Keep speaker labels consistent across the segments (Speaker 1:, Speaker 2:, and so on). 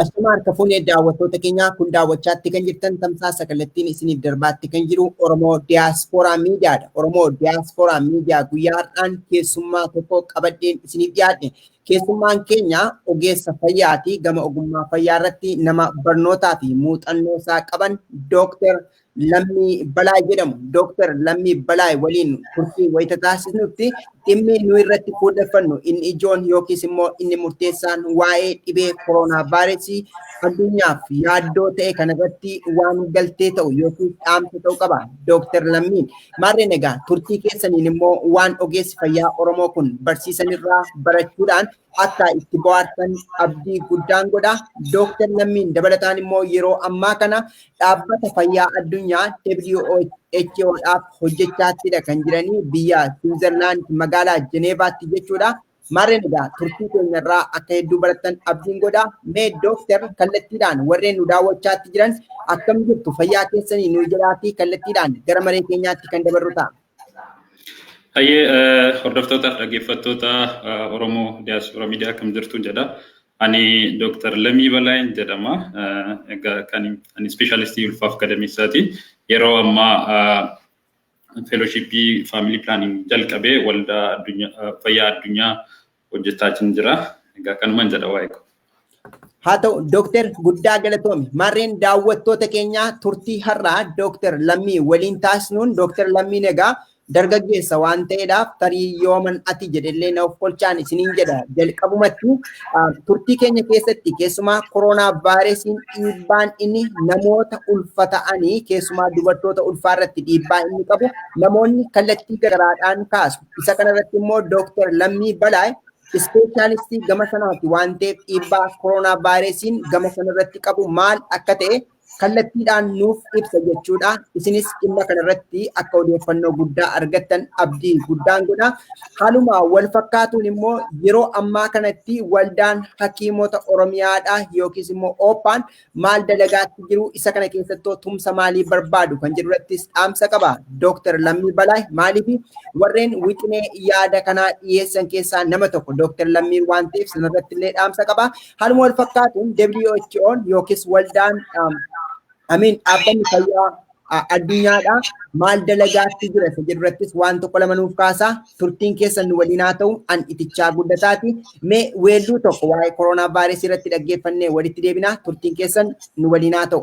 Speaker 1: Ashamaa harka fuunee daawwattoota keenyaa kun daawwachaatti kan jirtan tamsaasa kallattiin isiniif darbaatti kan jiru Oromoo Diyaaspooraa Miidiyaadha. Oromoo Diyaaspooraa Miidiyaa guyyaa har'aan keessummaa tokko qabadheen isiniif dhiyaadhe. Keessummaan keenya ogeessa fayyaati. Gama ogummaa fayyaa irratti nama barnootaa fi muuxannoo isaa qaban Dooktar Lammii Balaay jedhamu. Dooktar Lammii Balaay waliin turtii wayita taasisnutti dhimmi nu irratti fuulleffannu inni ijoon yookiis immoo inni murteessaan waa'ee dhibee koroonaa vaayiresii addunyaaf yaaddoo ta'e kanarratti waan galtee ta'u yookiis dhaamsa ta'u qaba. Dooktar Lammiin Maarreen egaa turtii keessaniin immoo waan ogeessi fayyaa Oromoo kun barsiisanirraa barachuudhaan akka itti bohaartan abdii guddaan godha. Dooktar Lammiin dabalataan immoo yeroo ammaa kana dhaabbata fayyaa addunyaa WHOdhaaf hojjechaattiidha kan jiranii biyya Siwiizerlaand magaalaa Jeneevaatti jechuudha. Maarreen egaa turtii keenya irraa akka hedduu barattan abdiin godha. Mee dooktar kallattiidhaan warreen nu daawwachaatti jiran akkam jirtu fayyaa keessanii nu jedhaatii kallattiidhaan gara maree keenyaatti kan dabarru ta'a. Hayyee
Speaker 2: hordoftootaaf dhaggeeffattoota Oromoo Diyaaspoora Miidiyaa akkam jirtu jedha. Ani Dooktar Lamii Balaayin jedhama. Egaa kan ani ispeeshaalistii ulfaaf gadameessaati. Yeroo ammaa feeloshiippii faamilii pilaaniing jalqabee waldaa fayyaa addunyaa hojjechaa jin jira. Egaa kanuman jedha waa'ee koo. Haa ta'u
Speaker 1: Dooktar guddaa galatoomi. Maarreen daawwattoota keenyaa turtii har'aa Dooktar Lammii waliin taasisnuun Dooktar Lammiin egaa dargaggeessa waan ta'eedhaaf tarii yooman ati jedhellee na ofkolchaan isiniin jedha jalqabumatti turtii keenya keessatti keessumaa koronaa vaayirasiin dhiibbaan inni namoota ulfa ta'anii keessumaa dubartoota ulfaa irratti dhiibbaa inni qabu namoonni kallattii garaadhaan kaasu. Isa kanarratti immoo Dooktar Lammii Balaay ispeeshaalistii gama sanaati waan ta'eef dhiibbaa koronaa vaayirasiin gama sanarratti qabu maal akka ta'e kallattiidhaan nuuf ibsa jechuudha. Isinis dhimma kanarratti akka odeeffannoo guddaa argattan abdii guddaan godha. Haaluma wal fakkaatuun immoo yeroo ammaa kanatti waldaan hakiimota Oromiyaadha yookiis immoo Ooppaan maal dalagaatti jiru isa kana keessattuu tumsa maalii barbaadu kan jedhurattis dhaamsa qaba. Dooktar Lammii Balaay maaliif warreen wixinee yaada kanaa dhiyeessan keessaa nama tokko Dooktar Lammii waan ta'eef sanarratti illee dhaamsa qaba. Haaluma wal fakkaatuun WHO'n yookiis waldaan amiin dhaabbanni fayyaa addunyaadha maal dalagaatti jira isa jedhu irrattis waan tokko lama nuuf kaasaa turtiin keessan nu waliin haa ta'u an itichaa guddataati mee weelluu tokko waa'ee koronaa vaayiresii irratti dhaggeeffannee walitti deebinaa turtiin keessan nu waliin haa ta'u.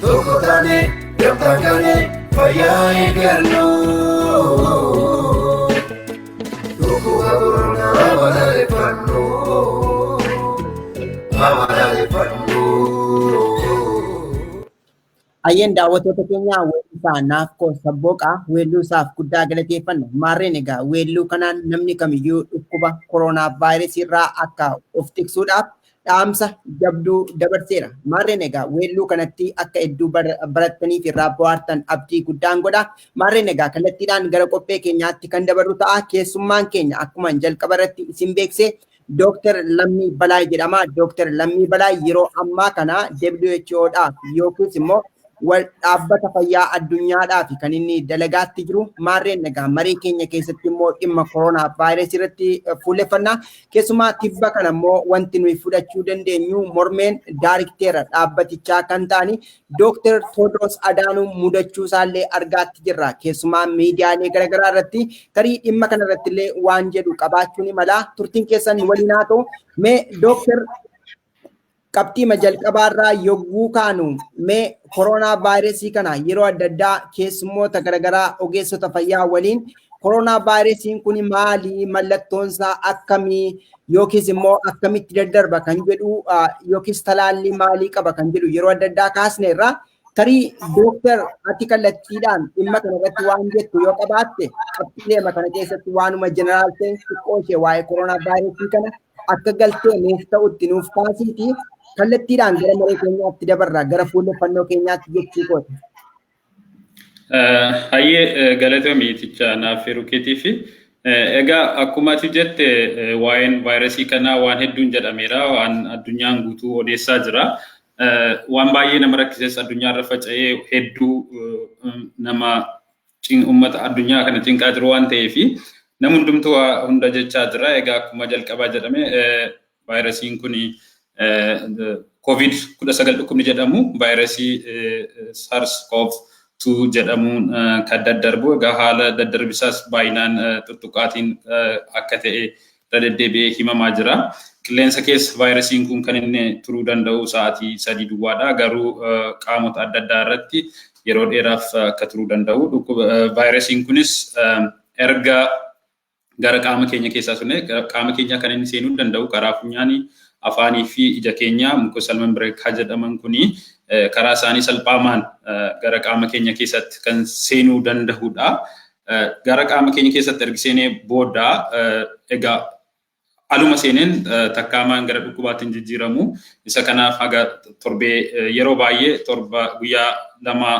Speaker 3: Tokko taane gamtaan kaane fayyaa eeggannu. Dhukkuba koronaa balaaleffannu.
Speaker 1: Balaaleffannu. Ayyeen daawwattoota keenya weellisaa Naafkoo Sabbooqaa weelluu isaaf guddaa galateeffanna. Maarreen egaa weelluu kanaan namni kamiyyuu dhukkuba koroonaa vaayirasii irraa akka of tiksuudhaaf dhaamsa jabduu dabarseera. Maarreen egaa weelluu kanatti akka hedduu barattanii fi irraa bohaartan abdii guddaan godha. Maarreen egaa kallattiidhaan gara qophee keenyaatti kan dabarru ta'a. Keessummaan keenya akkuma jalqaba irratti isin beeksise Dooktar Lammii Balaay jedhama. Dooktar Lammii Balaay yeroo ammaa kana WHOdhaaf yookiis immoo wal dhaabbata fayyaa addunyaadhaa fi kan inni dalagaatti jiru maarreen nagaa marii keenya keessatti immoo dhimma koronaa vaayirasii irratti fuulleffannaa keessumaa tibba kana immoo wanti nuyi fudhachuu dandeenyu mormeen daarikteera dhaabbatichaa kan ta'ani dooktar Tewodiroos Adaanuu mudachuu isaallee argaatti jirra keessumaa miidiyaalee garaagaraa irratti tarii dhimma kana irratti illee waan jedhu qabaachuun imala turtiin keessan waliin haa ta'u mee dooktar qabxiima jalqabaarraa yogguu kaanu mee koroonaa vaayirasii kana yeroo adda addaa keessummoota garaagaraa ogeessota fayyaa waliin koroonaa vaayirasiin kun maali mallattoonsaa akkamii yookiis immoo akkamitti daddarba kan jedhu yookiis talaallii maalii qaba kan jedhu yeroo adda addaa kaasneerra tarii dooktar ati kallattiidhaan dhimma kana irratti waan jettu yoo qabaatte qabxiileema kana keessatti waanuma jeneraal ta'e xiqqoo ishee waa'ee koroonaa vaayirasii kana akka galtee nuuf ta'utti nuuf taasiiti kallattiidhaan gara maree keenyaatti dabarra gara fuulleffannoo keenyaatti jechuu kooti.
Speaker 2: Hayyee galatoomi tichaa naaf firuu keetiifi. Egaa akkuma ati jette waa'een vaayirasii kanaa waan hedduun jedhameera waan addunyaan guutuu odeessaa jira. Waan baay'ee nama rakkises addunyaarra faca'ee hedduu nama Uummata addunyaa kana cinqaa jiru waan ta'eef nam hundumtuu waa hunda jechaa jira. Egaa akkuma jalqabaa jedhame vaayirasiin kun koovid 19 dhukkubni jedhamu vaayirasii SARS CoV 2 jedhamuun kan daddarbu egaa haala daddarbisaas baay'inaan tuttuqaatiin akka ta'e irra deddeebi'ee himamaa jira. Qilleensa keessa vaayirasiin kun kan inni turuu danda'u sa'aatii sadii duwwaadha. Garuu qaamota adda addaa irratti yeroo dheeraaf akka turuu danda'u. Vaayirasiin kunis erga gara qaama keenya keessaa sunee qaama keenya kan inni seenuu danda'u karaa funyaanii afaanii fi ija keenya mucosal membrane kan jedhaman kuni karaa isaanii salphaamaan gara qaama keenya keessatti kan seenuu danda'udha. Gara qaama keenya keessatti ergi seenee booda egaa aluma seeneen takkaamaan gara dhukkubaatti hin jijjiiramu. Isa kanaaf haga torbee yeroo baay'ee torba guyyaa lama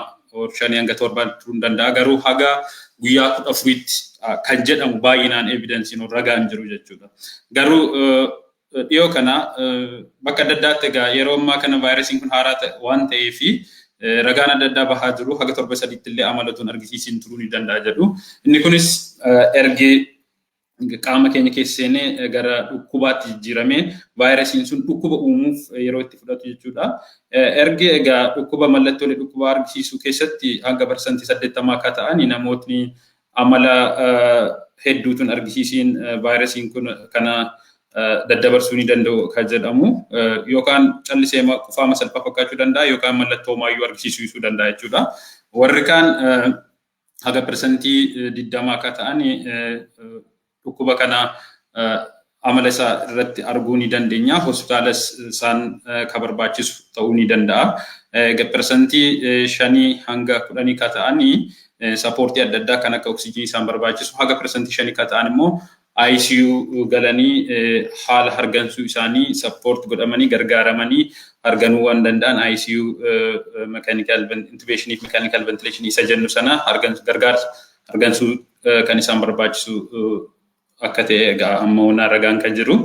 Speaker 2: shanii hanga torba turuu hin danda'a. Garuu haga guyyaa kudha afuriitti kan jedhamu baay'inaan evidensiin ragaan jiru jechuudha. Garuu Dhiyoo kana bakka adda addaatti egaa yeroo ammaa kana vaayirasiin kun haaraa waan ta'ee fi ragaan adda addaa bahaa jiru haga torba sadiitti illee amalatuun argisiisiin turuu ni danda'a jedhu. Inni kunis ergi qaama keenya keessa seenee gara dhukkubaatti jijjiiramee vaayirasiin sun dhukkuba uumuuf yeroo itti fudhatu jechuudha. Ergi egaa dhukkuba mallattoolee dhukkubaa argisiisuu keessatti hanga parsantii saddeettamaa akka ta'an namootni Amala hedduu tun argisiisiin vaayirasiin kun kana daddabarsuu ni danda'u kan jedhamu yookaan callisee qufaama salphaa fakkaachuu danda'a yookaan mallattoo maayyuu argisiisuu danda'a jechuudha. Warri kaan haga persentii digdama akka ta'an Dhukkuba kana amala isaa irratti arguu ni dandeenya. Hospitaalas isaan ka barbaachisu ta'uu ni danda'a. Egaa persantii shanii hanga kudhanii ka ta'ani sapoortii adda addaa kan akka oksijinii isaan barbaachisu haga persantii shanii ka ta'an immoo ICU galanii haala hargansuu isaanii sappoort godhamanii gargaaramanii harganuu waan danda'an ICU mechanical intubation fi mechanical ventilation isa jennu sana hargansu gargaarsa argansuu kan isaan barbaachisu akka ta'e egaa amma honnaa ragaan kan jiru.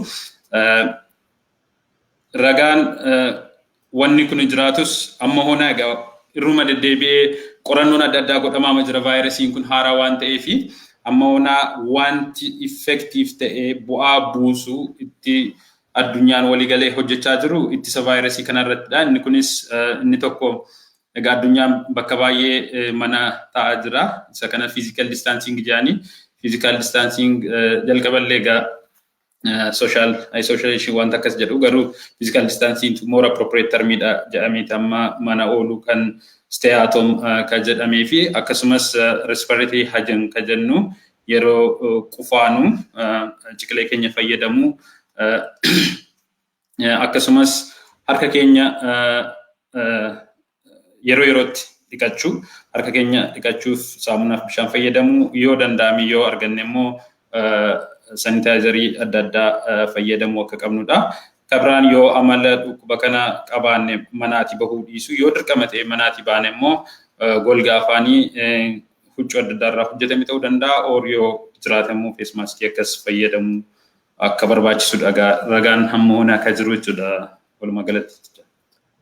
Speaker 2: Ragaan wanni kun jiraatus amma honnaa egaa irruma deddeebi'ee qorannoon adda addaa godhamaama jira vaayirasiin kun haaraa waan ta'eef amma honnaa wanti effektiif ta'e bu'aa buusu itti addunyaan waliigalee hojjechaa jiru ittisa vaayirasii kanarrattidha. Inni kunis inni tokko Egaa addunyaan bakka baay'ee mana taa'aa jira. Isa kana physical distancing jedhanii physical distancing jalqaba illee egaa social isolation wanta akkas jedhu garuu physical distancing more appropriate termidha jedhameeti amma mana oolu kan stay at home kan jedhamee fi akkasumas respiratory hygiene kan jennu yeroo qufaanu ciqilee keenya fayyadamu akkasumas harka keenya yeroo yerootti dhiqachuu harka keenya dhiqachuuf saamunaaf bishaan fayyadamuu yoo danda'ame yoo arganne immoo sanitaayizarii adda addaa fayyadamuu akka qabnudha. Karraan yoo amala dhukkuba kana qabaanne manaatii bahuu dhiisu yoo dirqama ta'e manaatii baane immoo golga afaanii huccuu adda addaa irraa hojjetame ta'uu danda'a or yoo jiraate immoo feesmaaskii akkas fayyadamuu akka barbaachisu dhagaa ragaan hamma hoonaa akka jiru jechuudha walumaa galatti.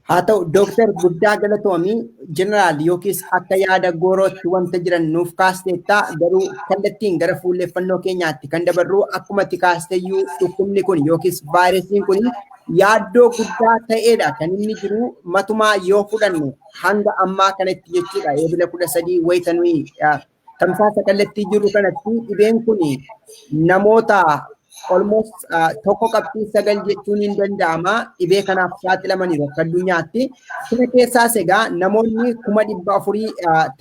Speaker 2: Haa ta'u
Speaker 1: Dooktar guddaa galatoomii jeneraal yookiis akka yaada goorootti wanta jiran nuuf kaasteetta garuu kallattiin gara fuulleeffannoo keenyaatti kan dabarru akkuma itti kaasteeyyuu dhukkubni kun yookiis vaayirasiin kun yaaddoo guddaa ta'eedha kan inni jiru matumaa yoo fudhannu hanga ammaa kanatti jechuudha eebila kudha sadii wayita nuyi Tamsaasa kallattii jiru kanatti dhibeen kun namoota almost tokko qabxii sagal jechuun hin danda'ama dhibee kanaaf saaxilamaniiru akka addunyaatti. Kana keessaas egaa namoonni kuma dhibba afurii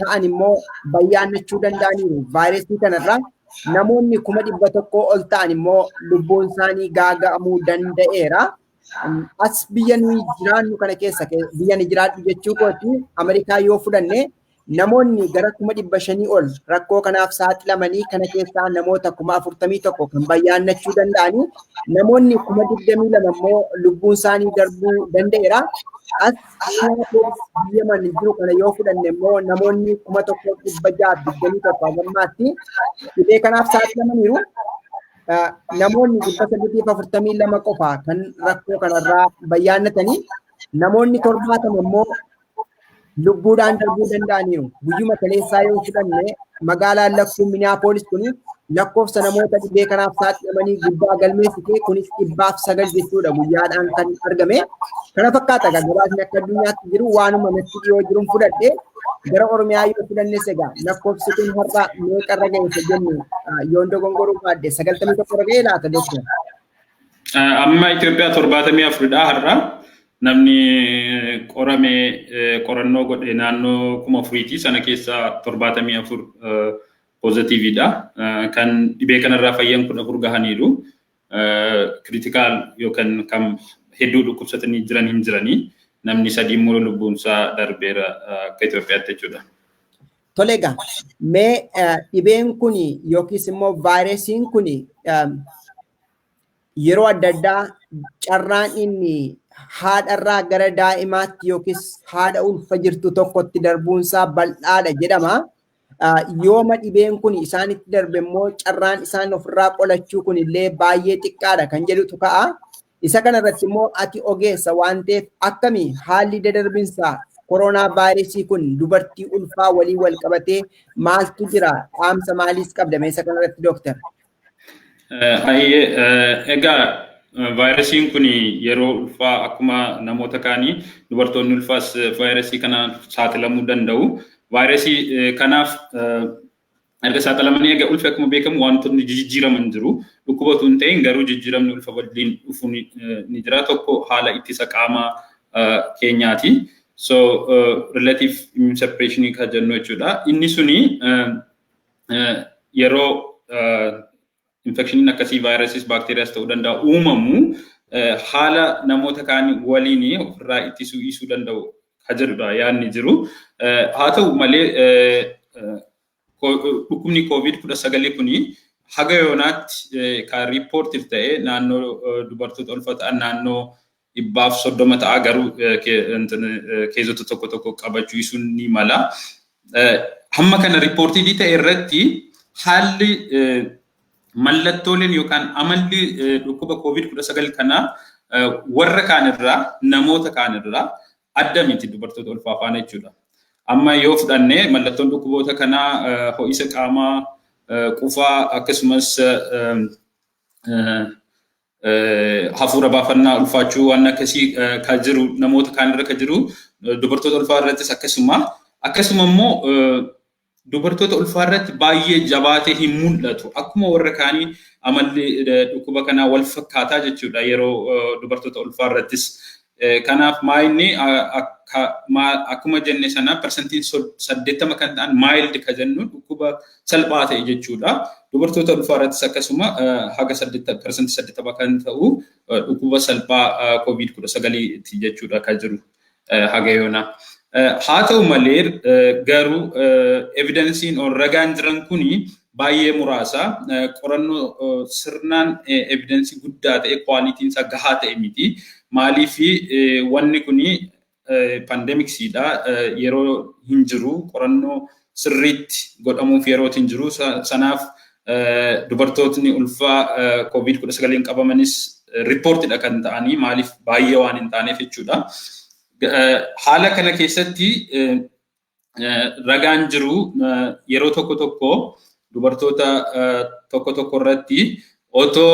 Speaker 1: ta'an immoo bayyaannachuu danda'aniiru vaayirasii kanarraa. Namoonni kuma dhibba tokkoo ol ta'an immoo lubbuun isaanii gaaga'amuu danda'eera. as biyya nuyi jiraannu kana keessa biyya ni jiraadhu jechuu kooti Ameerikaa yoo fudhanne namoonni gara kuma dhibba shanii ol rakkoo kanaaf saaxilamanii kana keessaa namoota kuma afurtamii tokko kan bayyaannachuu danda'anii namoonni kuma digdamii lama immoo lubbuun isaanii darbuu danda'eera. As biyya mana jiru kana yoo fudhanne immoo namoonni kuma tokko dhibba ja'a digdamii tokko hagammaatti dhibee kanaaf saaxilamaniiru. namoonni dhibba saddeetii fi afurtamii lama qofa kan rakkoo kanarraa bayyaannatanii namoonni torbaatama immoo lubbuudhaan darbuu danda'aniiru. Guyyuma kaleessaa yoo fudhanne magaalaan lakkuu Minneapolis kun lakkoofsa namoota dhibee kanaaf saaxilamanii guddaa galmeessite kunis dhibbaaf sagal jechuudha guyyaadhaan kan argame. Kana fakkaata gabaasni akka addunyaatti jiru waanuma natti dhiyoo jiruun fudhadhe gara Oromiyaa yoo filannes egaa lakkoofsi kun har'a meeqa irra ga'eessa jennu yoon dogongoruu baadde sagaltamii tokko irra ga'ee laata doktor?
Speaker 2: Amma Itoophiyaa torbaatamii afuridha har'a. Namni qorame qorannoo godhe naannoo kuma afuriiti sana keessaa torbaatamii afur poozitiividha. Kan dhibee kanarraa fayyan kudha afur gahaniiru. kiriitikaal yookaan kan hedduu dhukkubsatanii jiran hin jiranii. Namni sadii immoo lubbuunsaa darbeera akka Itoophiyaatti jechuudha. Tole
Speaker 1: egaa mee dhibeen kun yookiis immoo vaayirasiin kun yeroo adda addaa carraan inni haadharraa gara daa'imaatti yookiis haadha ulfa jirtu tokkotti darbuunsaa bal'aadha jedhama. Yooma dhibeen kun isaanitti darbe immoo carraan isaan ofirraa qolachuu kun illee baay'ee xiqqaadha kan jedhutu ka'a. Isa kanarratti immoo ati ogeessa waan ta'eef akkami haalli dadarbinsa koronaa vaayirasii kun dubartii ulfaa waliin wal qabatee maaltu jira dhaamsa maaliis qabda meesha kanarratti dooktar? Hayyee
Speaker 2: egaa vaayirasiin kun yeroo ulfaa akkuma namoota kaanii dubartoonni ulfaas vaayirasii kanaaf saaxilamuu danda'u. Vaayirasii kanaaf erga saaxilamanii egaa ulfi akkuma beekamu wantoonni jijjiiraman jiru. Dhukkuba utuu hin ta'in garuu jijjiiramni ulfa waliin dhufu ni jira. Tokko haala ittisa qaamaa keenyaati. So relative immunosuppression kan jennu jechuudha. Inni suni yeroo infekshiniin akkasii vaayirasiis baakteeriyaas ta'uu danda'a uumamu haala namoota kaan waliin ofirraa ittisuu dhiisuu danda'u ka jedhudha yaadni jiru. Haa ta'u malee dhukkubni koovid kudha sagalii kuni haga yoonaatti kan riippoortiif ta'e naannoo dubartoota ulfa ta'an naannoo dhibbaaf soddoma ta'a garuu keezota tokko tokko qabachuu isuun ni mala. Hamma kana riippoortiivii ta'e irratti haalli mallattooleen yookaan amalli dhukkuba koovid kudha sagal kana warra kaan irraa namoota kaan irraa adda miti dubartoota ulfaa faana jechuudha. Amma yoo fudhanne mallattoon dhukkuboota kanaa ho'isa qaamaa, qufaa akkasumas hafuura baafannaa ulfaachuu waan akkasii ka jiru namoota kaan irra ka jiru dubartoota ulfaa irrattis akkasuma akkasuma immoo dubartoota ulfaa irratti baay'ee jabaatee hin mul'atu akkuma warra kaanii amalli dhukkuba kanaa wal fakkaataa jechuudha yeroo dubartoota ulfaa irrattis Kanaaf maayinni akkuma jenne sana parsantiin saddeettama kan ta'an maayild ka jennu dhukkuba salphaa ta'e jechuudha. Dubartoota ulfaa irrattis akkasuma haga parsantii saddeettama kan ta'u dhukkuba salphaa koovid kudha sagaliiti jechuudha ka jiru haga yoonaa. Haa ta'u malee garuu evidensiin ol ragaan jiran kuni baay'ee muraasa. Qorannoo sirnaan evidensii guddaa ta'e quality isaa gahaa ta'e miti. Maaliif wanni kuni pandemics dha yeroo hin jiru qorannoo sirriitti godhamuuf yerootti hin jiru. Sanaaf dubartootni ulfaa covid 19 qabamanis report dha kan ta'anii maaliif baay'ee waan hin taaneef jechuudha. Haala kana keessatti ragaan jiru yeroo tokko tokko dubartoota tokko tokko irratti otoo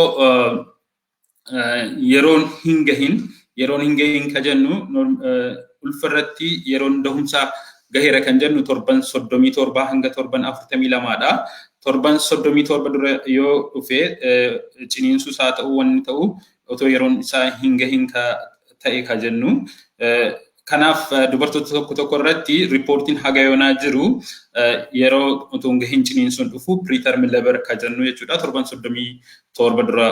Speaker 2: yeroon hin gahin yeroon hin gahin ka jennu ulfa irratti yeroon dahumsaa gaheera kan jennu torban soddomii torbaa hanga torban afurtamii lamaadha. Torban soddomii torba dura yoo dhufe ciniinsuus haa ta'u wanni ta'u otoo yeroon isaa hin gahin ka ta'e ka jennu Kanaaf dubartoota tokko tokko irratti riippoortiin haga yoonaa jiru yeroo utuu hin gahin ciniinsuun dhufu preterm labor ka jennu jechuudha. Torban soddomii torba dura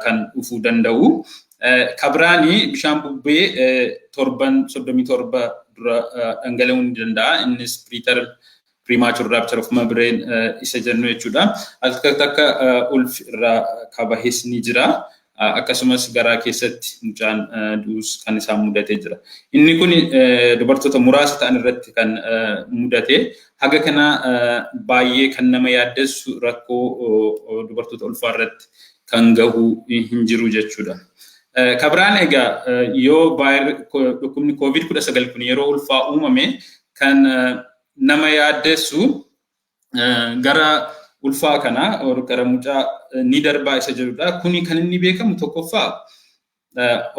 Speaker 2: kan dhufuu danda'u. Ka biraani bishaan bubbee torban soddomii torba dura dhangala'uu ni danda'a. Innis preterm premature rupture of membrane isa jennu jechuudha. Akka takka ulfi irraa kabahes ni jira. Akkasumas garaa keessatti mucaan du'us kan isaan mudatee jira. Inni kun dubartoota muraasa ta'an irratti kan mudate haga kana baay'ee kan nama yaaddessu rakkoo dubartoota ulfaa irratti kan gahu hin jiru jechuudha. Kabiraan egaa yoo dhukkubni COVID-19 kun yeroo ulfaa uumame kan nama yaaddessu gara ulfaa kanaa gara mucaa ni darbaa isa jedhudha. Kuni kan inni beekamu tokkoffaa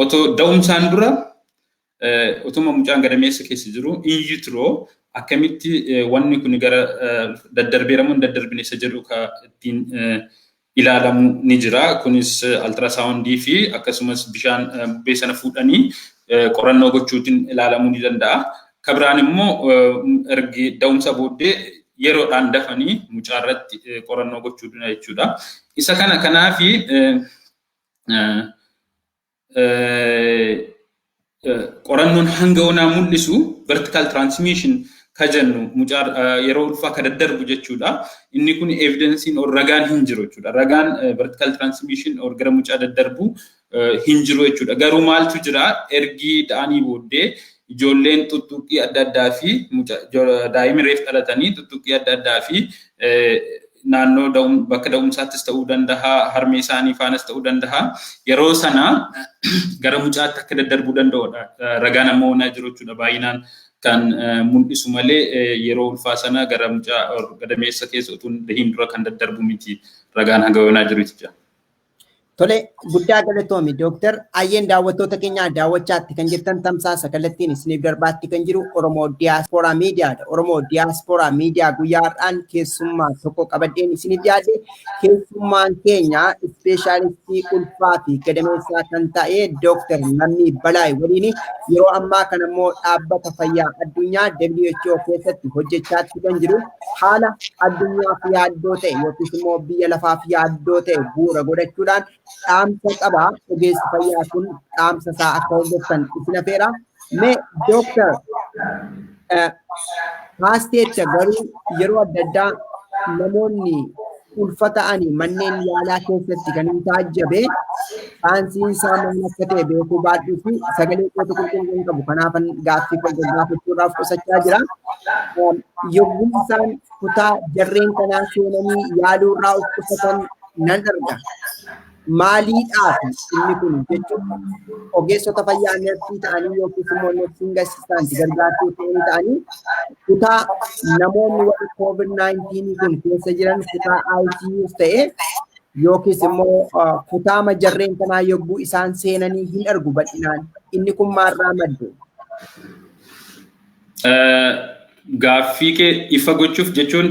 Speaker 2: otoo da'umsaan dura otuma mucaan gadameessa keessa jiru in utero akkamitti wanni kun gara daddarbeeramuun daddarbine isa jedhu ka ittiin ilaalamu ni jira. Kunis altirasaawundii fi akkasumas bishaan bubbee sana fuudhanii qorannoo gochuutiin ilaalamuu ni danda'a. Ka biraan immoo ergi da'umsa booddee yeroodhaan dafanii mucaa irratti qorannoo gochuu duna jechuudha. Isa kana kanaafi qorannoon hanga onaa mul'isu vertical transmission ka jennu mucaa yeroo ulfaa ka daddarbu jechuudha. Inni kun evidensiin or ragaan hin jiru jechuudha. Ragaan vertical transmission or gara mucaa daddarbu hin jiru jechuudha. Garuu maaltu jira ergi da'anii booddee Ijoolleen tuttuqqii adda addaa fi daa'imni reef dhalatanii tuttuqqii adda addaa fi naannoo bakka da'umsaattis ta'uu danda'a, harmee isaanii faanas ta'uu danda'a. Yeroo sana gara mucaatti akka daddarbuu danda'udha. Ragaan amma onaa jiru jechuudha baay'inaan kan mul'isu malee yeroo ulfaa sana gara mucaa gadameessa keessa utuu hin dura kan daddarbu miti ragaan hanga onaa jiru jechuudha. Tole
Speaker 1: guddaa galatoomi Dooktar Ayyeen daawwattoota keenya daawwachaatti kan jirtan tamsaasa kallattiin isiniif darbaatti kan jiru Oromoo Diyaaspooraa Miidiyaadha. Oromoo Diyaaspooraa Miidiyaa guyyaa har'aan keessummaa tokko qabadheen isiniif dhiyaate keessummaan keenya ispeeshaalistii ulfaa fi gadameessaa kan ta'e Dooktar Lammii Balaay waliin yeroo ammaa kana immoo dhaabbata fayyaa addunyaa WHO keessatti hojjechaatti kan jiru haala addunyaaf yaaddoo ta'e yookiis immoo biyya lafaaf yaaddoo ta'e bu'uura godhachuudhaan dhaamsa qaba. Ogeessi fayyaa kun dhaamsa isaa akka hordoftan isin afeera. Mee dooktar paasteecha garuu yeroo adda addaa namoonni ulfa ta'anii manneen yaalaa keessatti kan hin taajjabe saansiin isaa maal akka ta'e beekuu baadhuu fi sagalee kootu qulqulluu qabu kanaafan gaaffii koo gaggaafachuudhaaf qusachaa jira. Yogguu isaan kutaa jarreen kanaa seenanii yaaluu irraa of qusatan nan arga. maaliidhaaf inni kun jechuun ogeessota fayyaa neersii ta'anii yookiis immoo neersiin gasistaanti gargaartuu ta'anii ta'anii kutaa namoonni warri koovid 19 kun keessa jiran kutaa ICUs ta'ee yookiis immoo kutaama jarreen kanaa yogguu isaan seenanii hin argu bal'inaan inni kun maarraa madde.
Speaker 2: Gaaffii kee ifa gochuuf jechuun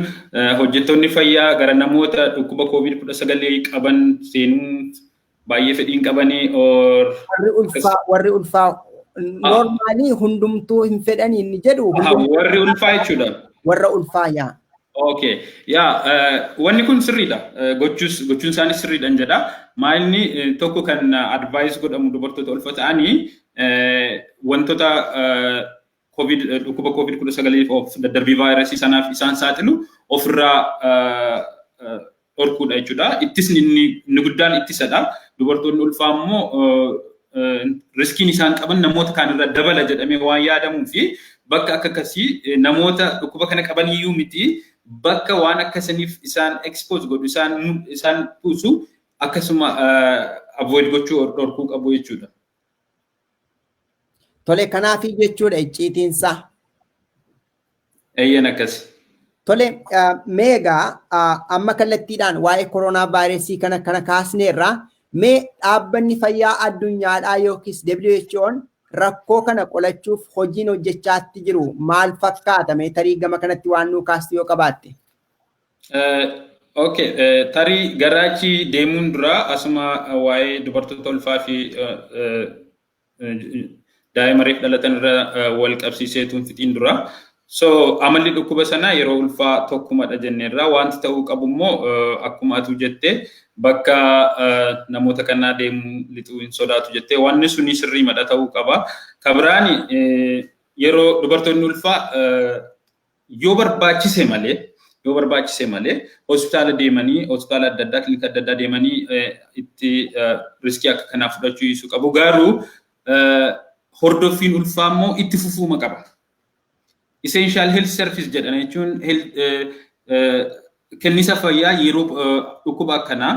Speaker 2: hojjettoonni fayyaa gara namoota dhukkuba COVID-19 qaban seenuu baay'ee fedhiin qabanii or Warri ulfaa
Speaker 1: warri ulfaa normaalii hundumtuu hin fedhanii inni jedhu Aha, warri ulfaa
Speaker 2: jechuudha. warra ulfaa
Speaker 1: yaa. Okay.
Speaker 2: Yaa eh, wanni kun sirriidha. Eh, Gochuus gochuun isaanii sirriidhan jedha. Maayilni eh, tokko kan advaayis godhamu dubartoota ulfa ta'anii Wantoota COVID dhukkuba COVID 19f of daddarbii vaayirasii sanaaf isaan saaxilu ofirraa dhorkuudha jechuudha. Ittisni inni inni guddaan ittisadha. Dubartoonni ulfaa immoo riskiin isaan qaban namoota kaanirra dabala jedhamee waan yaadamuu fi bakka akka akkasii namoota dhukkuba kana qaban iyyuu miti bakka waan akkasaniif isaan expose godhu isaan isaan buusu akkasuma avoid gochuu dhorkuu qabu jechuudha.
Speaker 1: Tole kanaafii jechuudha icciitiinsaa.
Speaker 2: Eeyyeen akkasi. Tole
Speaker 1: mee egaa amma kallattiidhaan waa'ee koronaa vaayirasii kana kana kaasneerra mee dhaabbanni fayyaa addunyaadhaa yookiis WHO'n rakkoo kana qolachuuf hojiin hojjechaatti jiru maal fakkaata mee tarii gama kanatti waan nuu kaastu yoo qabaatte. Ok,
Speaker 2: tarii gara achi deemuun dura asuma waa'ee dubartoota ulfaa fi daa'ima reef dhalatan irra wal qabsiisee tun fixiin dura. So amalli dhukkuba sanaa yeroo ulfaa tokkumadha jenneerra. Wanti ta'uu qabu immoo akkuma atuu jette bakka namoota kanaa deemuu lixuu hin sodaatu jette. Wanni suni sirriimadha ta'uu qaba. Kabiraani yeroo dubartoonni ulfaa Yoo barbaachise malee yoo barbaachise malee hospitaala deemanii hospitaala adda addaa kilinika adda addaa deemanii itti riskii akka kanaa fudhachuu dhiisuu qabu garuu hordoffiin ulfaa immoo itti fufuuma qaba. Essential health service jedhan jechuun Kennisa fayyaa yeroo dhukkuba akkanaa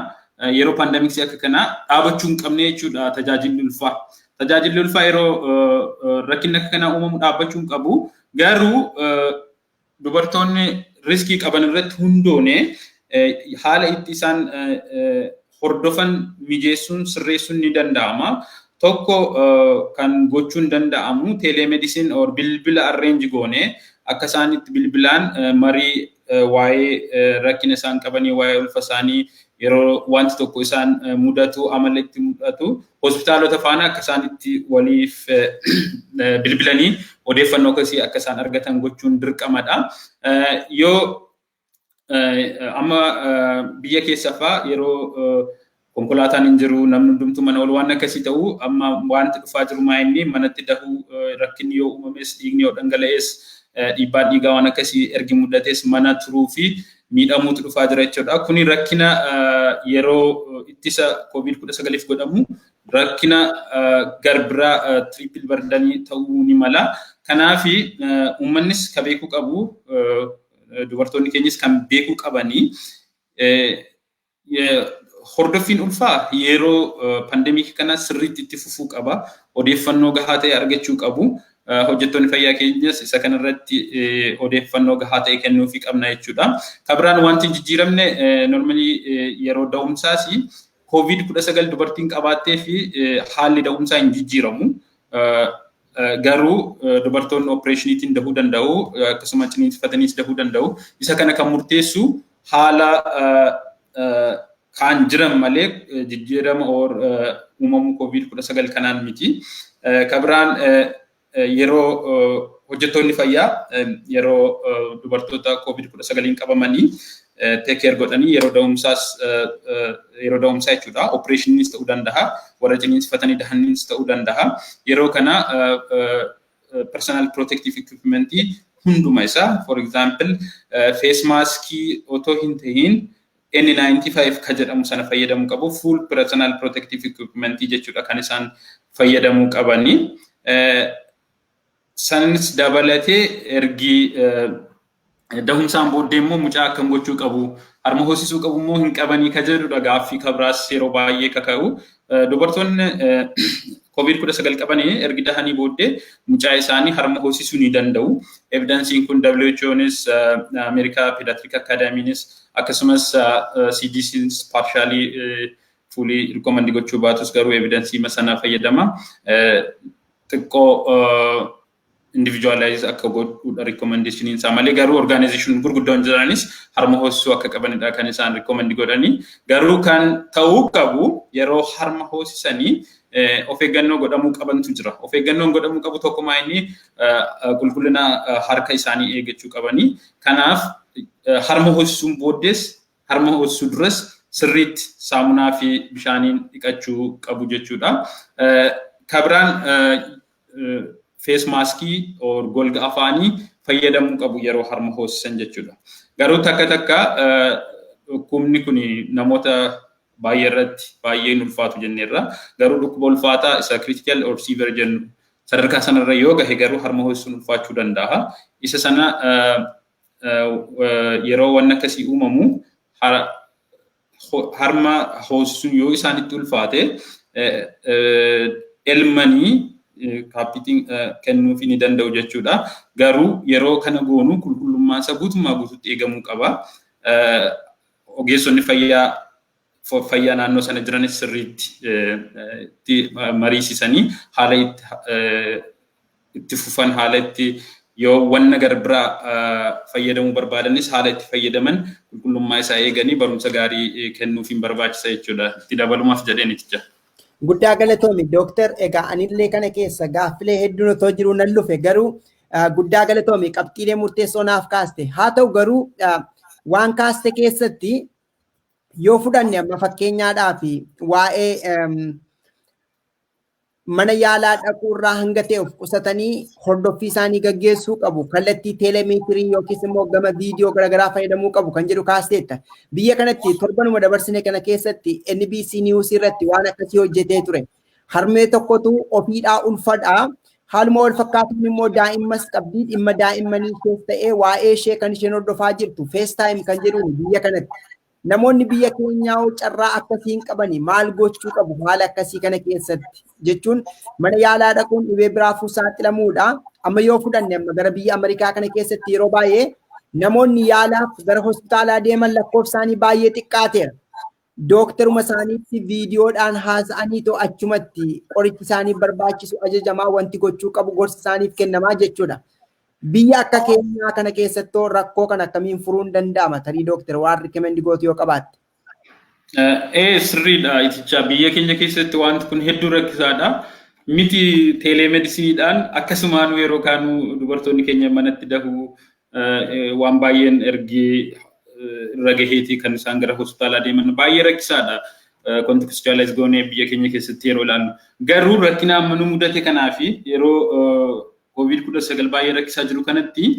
Speaker 2: yeroo paandamiksii akka kanaa dhaabachuu hin qabne jechuudha tajaajilli ulfaa. Tajaajilli ulfaa yeroo rakkinni akka kanaa uumamu dhaabbachuu hin qabu. Garuu dubartoonni riskii qaban irratti hundoone haala itti isaan hordofan mijeessuun sirreessuun ni danda'ama. Tokko kan gochuun danda'amu telemedicine or bilbila arrange goone akka isaan itti bilbilaan marii waa'ee rakkina isaan qabanii waa'ee ulfa isaanii yeroo wanti tokko isaan mudatu amala itti mudatu hospitaalota faana akka isaan itti waliif bilbilanii odeeffannoo akkasii akka isaan argatan gochuun dirqamadha. Yoo Amma biyya keessa faa yeroo konkolaataan hin jiru namni hundumtuu mana ol waan akkasii ta'u amma wanti dhufaa jiru maa inni manatti dahuu rakkinni yoo uumames dhiigni yoo dhangala'es dhiibbaan dhiigaa waan akkasii ergi mudates mana turuu fi miidhamuutu dhufaa jira jechuudha. Kuni rakkina yeroo ittisa koovid kudha sagaliif godhamu rakkina garbiraa tiriipil bardanii ta'uu ni mala. Kanaaf uummannis ka beekuu qabu Dubartoonni keenyas kan beekuu qabanii hordoffiin ulfaa yeroo pandemiikii kana sirriitti itti fufuu qaba. Odeeffannoo gahaa ta'e argachuu qabu. Hojjettoonni fayyaa keenyas isa kanarratti odeeffannoo gahaa ta'e kennuufii qabna jechuudha. Kan biraan wanti hin jijjiiramne normalii yeroo da'umsaas koovid kudha sagal dubartiin qabaattee fi haalli da'umsaa hin jijjiiramu. Garuu dubartoonni opereeshiniitiin dahuu danda'u akkasuma ciniinsifataniis dahuu danda'u. Isa kana kan murteessu haala kaan jiran malee jijjiirama uumamuu koovid kudha sagal kanaan miti. Ka biraan yeroo hojjettoonni fayyaa yeroo dubartoota koovid kudha sagaliin qabamanii take care godhanii yeroo da'umsaas yeroo da'umsaa jechuudha opereeshiniinis ta'uu danda'a warra ciniinsifatanii dahaniinis ta'uu danda'a yeroo kana personal protective equipment hunduma isaa for example face mask otoo hin tahin N95 ka jedhamu sana fayyadamuu qabu full personal protective equipment jechuudha kan isaan fayyadamuu qabanii Sanis dabalatee ergi dahumsaan booddee immoo mucaa akkam gochuu qabu harma hoosisuu qabu immoo hin qabanii ka jedhudha gaaffii ka biraas yeroo baay'ee ka ka'u. Dubartoonni koovid kudha sagal qaban ergi dahanii booddee mucaa isaanii harma hoosisuu ni danda'u. Evidansiin kun WHOnis Ameerikaa Pediatric Academynis akkasumas CDCnis paarshaalii fuulii rikoomandii gochuu baatus garuu evidensiima sana fayyadama xiqqoo individualize akka godhuudha rikoomandishiniin isaa malee garuu orgaanayizeeshin gurguddoon jiranis harma hoosisuu akka qabanidha kan isaan rikoomandi godhanii garuu kan ta'uu qabu yeroo harma hoosisanii of eeggannoo godhamuu qabantu jira. Of eeggannoon godhamuu qabu tokkumaa inni qulqullina harka isaanii eeggachuu qabanii. Kanaaf harma hoosisuun booddees Harma hoosisuu duras sirriitti saamunaa fi bishaaniin dhiqachuu qabu jechuudha. Ka biraan fees maaskii or golga afaanii fayyadamuu qabu yeroo harma hoosisan jechuudha. Garuu takka takka dhukkubni kun namoota baay'ee irratti baay'ee hin ulfaatu jenneerra. Garuu dhukkuba ulfaataa isa critical or severe jennu sadarkaa sanarra yoo gahe garuu harma hoosisuun ulfaachuu danda'a. Isa sana yeroo wanni akkasii uumamu harma hoosisuun yoo isaanitti ulfaate elmanii kaappitiin kennuufii ni danda'u jechuudha. Garuu yeroo kana goonu qulqullummaan isaa guutummaa guutuutti eegamuu qaba. Ogeessonni fayyaa fayyaa naannoo sana jiranis sirriitti mariisisanii haala itti fufan haala itti yoo wanna gara biraa fayyadamuu barbaadanis haala itti fayyadaman qulqullummaa isaa eeganii barumsa gaarii kennuufiin barbaachisa jechuudha. Itti dabalumaaf jedheen itti jira. Guddaa galatoomi
Speaker 1: dooktar egaa anillee kana keessa gaaffilee hedduun otoo jiruu nan lufe garuu guddaa galatoomi qabxiilee murteessoo naaf kaaste haa ta'u garuu waan kaaste keessatti Yoo fudhanne amma fakkeenyaadhaaf waa'ee mana yaalaa dhaquu irraa hanga ta'e of qusatanii hordoffii isaanii gaggeessuu qabu. Kallattii teelemeetirii yookiis immoo gama viidiyoo garaagaraa fayyadamuu qabu kan jedhu kaasteetta. Biyya kanatti torbanuma dabarsine kana keessatti NBC News irratti waan akkasii hojjetee ture. Harmee tokkotu ofiidhaa ulfadhaa. Haaluma wal fakkaatuun immoo daa'immas qabdi. Dhimma daa'immanii ishees ta'ee waa'ee ishee kan isheen hordofaa jirtu FaceTime kan jedhuun biyya kanatti. Namoonni biyya keenyaa hoo carraa akkasii hin qabani maal gochuu qabu haala akkasii kana keessatti jechuun mana yaalaa dhaquun dhibee biraafuu saaxilamuudha. Amma yoo fudhanne amma gara biyya Ameerikaa kana keessatti yeroo baay'ee namoonni yaalaaf gara hospitaalaa deeman lakkoofsaanii baay'ee xiqqaateera. Dooktaruma isaaniitti viidiyoodhaan haasa'anii too achumatti qorichi isaaniif barbaachisu ajajamaa wanti gochuu qabu gorsi isaaniif kennamaa jechuudha. Biyya akka keenyaa kana keessattoo rakkoo kana akkamiin furuun danda'ama tarii dooktar waan rikemendi gootu yoo qabaatte. Ee sirriidha
Speaker 2: itichaa biyya keenya keessatti wanti kun hedduu rakkisaadha. Miti teeleemedisiniidhaan akkasumaan yeroo kaanuu dubartoonni keenya manatti dahuu waan baay'een ergi irra gaheetii kan isaan gara hospitaalaa deeman baay'ee rakkisaadha. Kontekstuwaalaayis goonee biyya keenya keessatti yeroo ilaallu. Garuu rakkina amma nu mudate kanaa fi yeroo koovid kudha sagal baay'ee rakkisaa jiru kanatti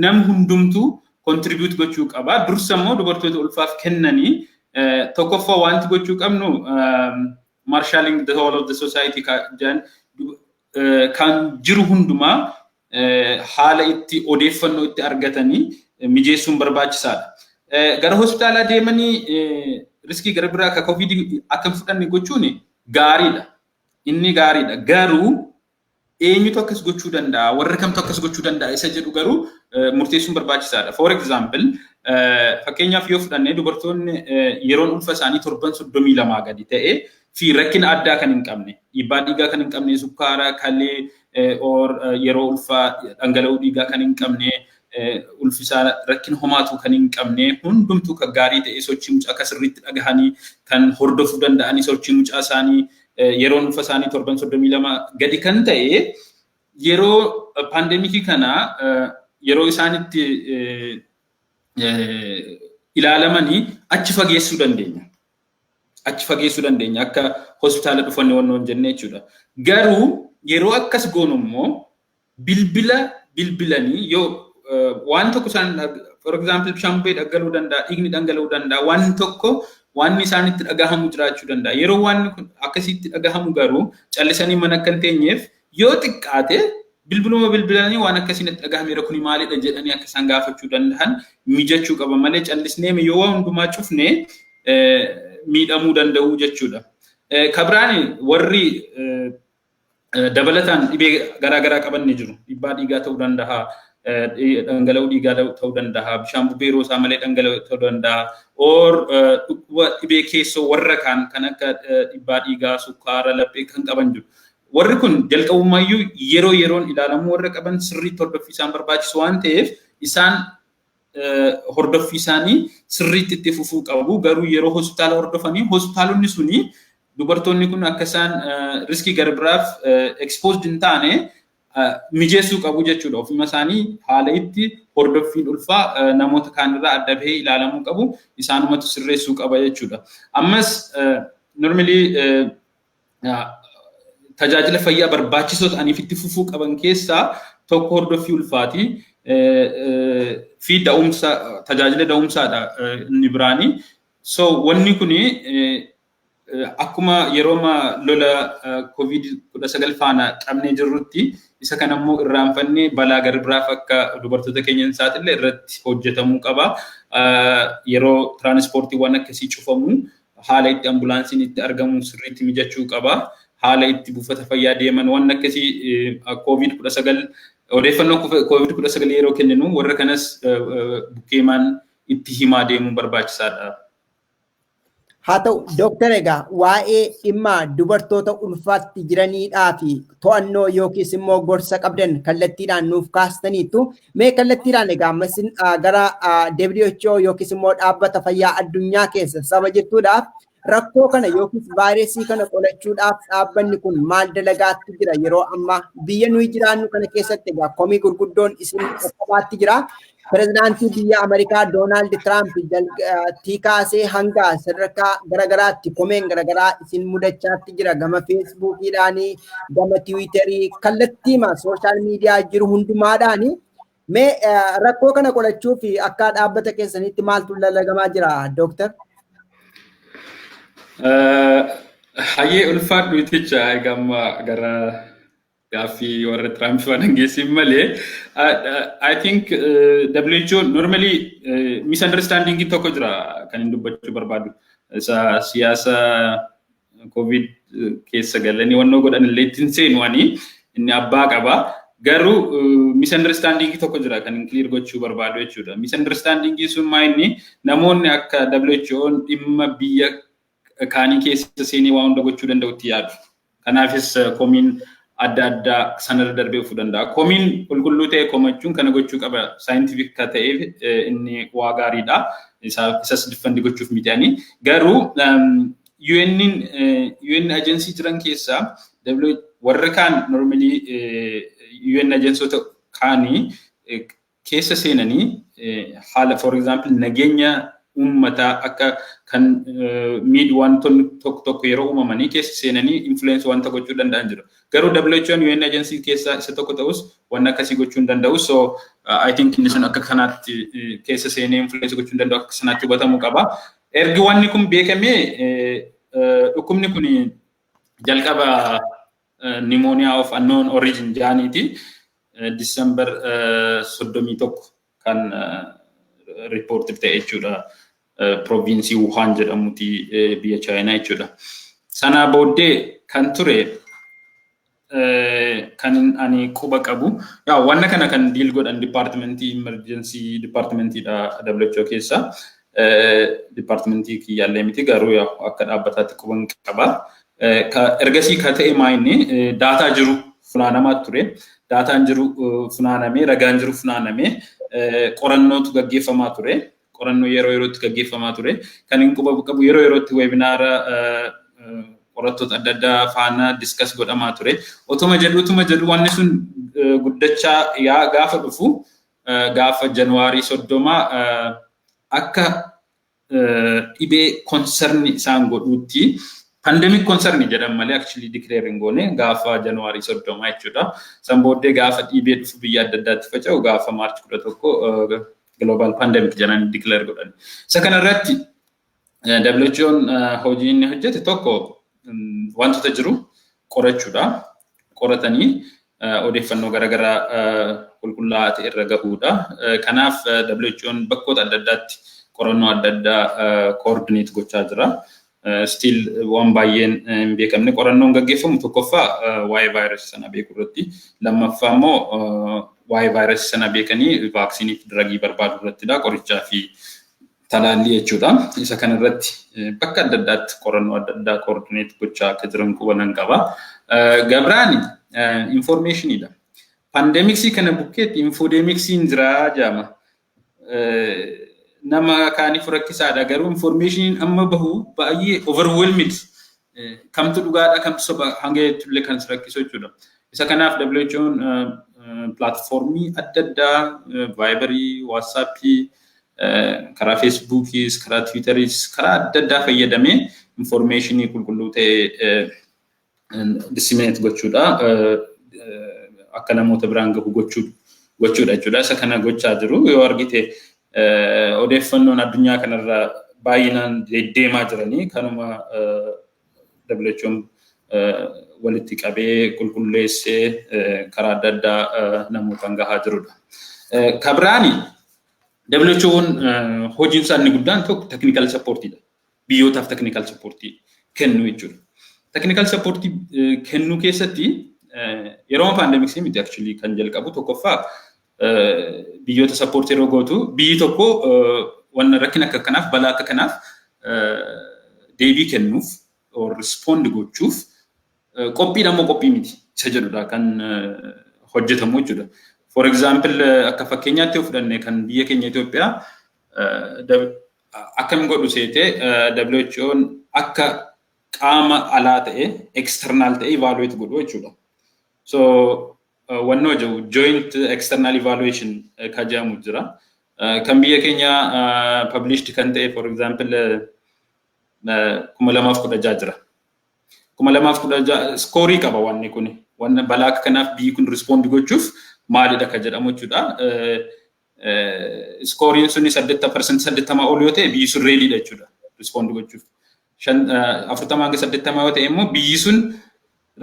Speaker 2: nam hundumtuu kontiribiyuut gochuu qaba. Dursa immoo dubartoota ulfaaf kennanii tokkoffaa wanti gochuu qabnu maarshaaliing the whole of the society jedhan kan jiru hundumaa haala itti odeeffannoo itti argatanii mijeessuun barbaachisaadha. Gara hospitaalaa deemanii riskii gara biraa akka COVID akka hin fudhanne gochuun gaariidha. Inni gaariidha. Garuu eenyutu akkas gochuu danda'a? Warra kamtu akkas gochuu danda'a? Isa jedhu garuu murteessuun barbaachisaadha. For example, fakkeenyaaf yoo fudhanne dubartoonni yeroon ulfa isaanii torban soddomii lamaa gadi ta'e fi rakkina addaa kan hin qabne dhiibbaa dhiigaa kan hin qabne sukkaara kalee or yeroo ulfaa dhangala'uu dhiigaa kan hin qabne ulfisaa rakkina homaatu kan hin qabne hundumtuu kan gaarii ta'e sochii mucaa akka sirriitti dhagahanii kan hordofuu danda'anii sochii mucaa isaanii yeroo ulfa isaanii torban soddomii lama gadi kan ta'e yeroo paandemikii kana yeroo isaanitti ilaalamanii achi fageessuu dandeenya. achi fageessuu dandeenya akka hospitaala dhufanne wanna hin jenne jechuudha. Garuu yeroo akkas goonu immoo bilbila bilbilanii yoo waan tokko isaan for example bishaan bubbee dhaggaluu danda'a, dhiigni dhangala'uu danda'a, waan tokko waan isaan itti dhagahamu jiraachuu danda'a. Yeroo waan akkasitti dhagahamu garuu callisanii mana akka hin teenyeef Yoo xiqqaate bilbiluma bilbilanii waan akkasii natti dhagahameera kuni maalidha jedhanii akka isaan gaafachuu danda'an mijachuu qaba malee callisneeme yoo waa hundumaa cufne miidhamuu danda'u jechuudha. Kabiraani warri dabalataan dhibee garaa garaa qaban ni jiru. Dhibbaa dhiigaa ta'uu danda'a, dhangala'uu dhiigaa ta'uu danda'a, bishaan bubbee yeroo isaa malee dhangala'uu ta'uu danda'a, or dhukkuba dhibee keessoo warra kaan kan akka dhibbaa dhiigaa, sukkaara, laphee kan qaban jiru. Warri kun jalqabumaayyuu yeroo yeroon ilaalamuu warra qaban sirriitti hordoffii isaan barbaachisu waan ta'eef isaan hordoffii isaanii sirriitti itti fufuu qabu. Garuu yeroo hospitaala hordofanii hospitaalonni suni dubartoonni kun akka isaan riskii gara biraaf exposed hin taane mijeessuu qabu jechuudha. Ofuma isaanii haala itti hordoffiin ulfaa namoota kaanirraa adda bahee ilaalamuu qabu isaanumatu sirreessuu qaba jechuudha. Ammas normally tajaajila fayyaa barbaachisoo ta'aniif itti fufuu qaban keessaa tokko hordoffii ulfaati fi da'umsa tajaajila da'umsaadha inni biraani. So wanni kun akkuma yeroo lola covid kudha sagal faana qabnee jirrutti isa kana immoo irraanfannee balaa gara biraaf akka dubartoota keenya hin saaxille irratti hojjetamuu qaba. Yeroo tiraanispoortiiwwan akkasii cufamu haala itti ambulaansiin itti argamu sirriitti mijachuu qaba. Haala itti buufata fayyaa deeman waan akkasii koovid kudha sagal odeeffannoo koovid kudha sagal yeroo kenninu warra kanas bukkeemaan itti himaa deemuun barbaachisaadha.
Speaker 1: Haa ta'u dooktar egaa waa'ee dhimma dubartoota ulfaatti jiraniidhaa fi to'annoo yookiis immoo gorsa qabdan kallattiidhaan nuuf kaastaniittu Mee kallattiidhaan egaa ammas gara WHO yookiis immoo dhaabbata fayyaa addunyaa keessa saba jirtuudhaaf rakkoo kana yookiis vaayirasii kana qolachuudhaaf dhaabbanni kun maal dalagaatti jira yeroo ammaa biyya nuyi jiraannu kana keessatti egaa komii gurguddoon isin qaqqabaatti jira. Pirezidaantii biyya Ameerikaa Doonaald Tiraamp tii kaasee hanga sadarkaa garaagaraatti komeen garaagaraa isin mudachaatti jira gama feesbuukiidhaanii gama tiwiitarii kallattiima sooshaal miidiyaa jiru hundumaadhaani mee rakkoo kana qolachuu fi akka dhaabbata keessanitti maaltu lallagamaa jira dooktar?
Speaker 2: Hayyee ulfaadhu iticha egamma gara gaaffii warra Tiraamp waan hangeessiin malee I think WHO normally misunderstanding tokko jira kan hin dubbachuu barbaadu. Isa siyaasa Covid keessa galanii wannoo godhan illee ittiin seenu ani inni abbaa qaba. Garuu misunderstanding tokko jira kan hin clear gochuu barbaadu jechuudha. Misunderstanding sun maa inni namoonni akka WHO'n dhimma biyya kaanii keessa seenee waa hunda gochuu danda'utti yaadu. Kanaafis komiin adda addaa sanarra darbee dhufuu danda'a. Komiin qulqulluu ta'e komachuun kana gochuu qaba saayintifik ka ta'eef inni waa gaariidha. Isas diffandi gochuuf miti ani. Garuu UN'n UN agency jiran keessaa W warra kaan normally UN agensoota kaanii keessa seenanii haala for example nageenya uummataa akka kan miid wantoonni tokko tokko yeroo uumamanii keessa seenanii influence wanta gochuu danda'an jiru. Garuu WHO'n UN agency keessaa isa tokko ta'us waan akkasii gochuu hin danda'u. So I think inni sun akka kanaatti keessa seenee influence gochuu hin danda'u akka sanaatti hubatamuu qaba. Ergi wanni kun beekamee dhukkubni kun jalqaba nimooniyaa of annoon origin jaaniiti December 31 kan riippoortif ta'e jechuudha. Proviinsii Wuhaan jedhamuti biyya Chaayinaa jechuudha. Sanaa booddee kan ture kan ani quba qabu yaa wanna kana kan diil godhan dipaartimentii imerjensii dipaartimentiidha WHO keessa dipaartimentii kiyyaallee miti garuu yaa akka dhaabbataatti quban qaba. Ergasii ka ta'e maayinni daataa jiru funaanamaa ture. Daataan jiru funaanamee ragaan jiru funaanamee qorannootu gaggeeffamaa ture. qorannoo yeroo yerootti gaggeeffamaa ture. Kan hin quba qabu yeroo yerootti weebinaara qorattoota adda addaa faana diskas godhamaa ture. Otuma jedhu utuma jedhu wanni sun guddachaa yaa gaafa dhufu gaafa Januwaarii soddoma akka dhibee konsarni isaan godhuutti pandemic konsarni jedhan malee actually declare hin goone gaafa Januwaarii soddoma jechuudha. San booddee gaafa dhibee dhufu biyya adda addaatti faca'u gaafa Maarch kudha tokko global pandemic jedhanii declare godhan. Isa kana irratti WHO'n hojii inni hojjete tokko wantoota jiru qorachuudha. Qoratanii odeeffannoo garaagaraa qulqullaa'aa ta'e irra gahuudha. Kanaaf WHO'n bakkoota adda addaatti qorannoo adda addaa koordineet gochaa jira. stiil waan baay'een hin beekamne qorannoon gaggeeffamu tokkoffaa waa'ee vaayirasii sana beekuu irratti lammaffaa immoo waa'ee vaayirasii sana beekanii vaaksiinii fi diragii barbaaduu irrattidha qorichaa fi talaallii jechuudha. Isa kana irratti bakka adda addaatti qorannoo adda addaa koordineet gochaa akka jiran qubanan qaba. Gabraani infoormeeshiniidha. Paandeemiksii kana bukkeetti infoodemiksiin jiraa jaama. nama kaaniif rakkisaadha garuu information amma bahu baay'ee overwhelming kamtu dhugaadha kamtu soba hanga jechuullee kan si rakkisu jechuudha. Isa kanaaf WHO'n pilaatfoormii adda addaa vaayibarii, waatsaappii, karaa feesbuukiis, karaa tiwiitariis, karaa adda addaa fayyadamee informeeshinii qulqulluu ta'e disseminate gochuudha akka namoota biraan gahu gochuudha jechuudha isa kana gochaa jiru yoo argite odeeffannoon addunyaa kanarra baay'inaan deddeemaa jiranii kanuma WHO'n walitti qabee qulqulleessee karaa adda addaa namootaan gahaa jirudha. Kabiraani WHO'n hojiinsaa inni guddaan tokko teknikal sappoortiidha. biyyootaaf technical support kennu jechuudha. Technical support kennu keessatti yeroo pandemic miti actually kan jalqabu tokkoffaa biyyoota support yeroo gootu biyyi tokko wanna rakkina akka kanaaf balaa akka kanaaf deebii kennuuf or respond gochuuf qophiidha moo qophii miti isa jedhudha kan hojjetamu jechuudha. For example akka fakkeenyaatti yoo fudhanne kan biyya keenya Itoophiyaa Akkam godhu seete WHOn akka qaama alaa ta'e external ta'e evaluate godhu jechuudha. So wannoo jiru joint external evaluation ka jedhamu jira. Kan biyya keenya published kan ta'e for example kuma lamaaf kudha ja'a jira. Kuma lamaaf kudha ja'a skoorii qaba wanni kun. Wanna balaa akka kanaaf biyyi kun respond gochuuf maalidha ka jedhamu jechuudha. iskooriin suni saddeetta parsantii saddeettamaa ol yoo ta'e biyyi sun reediidha jechuudha rispoondi gochuuf. Afurtamaa hanga saddeettamaa yoo ta'e immoo biyyi sun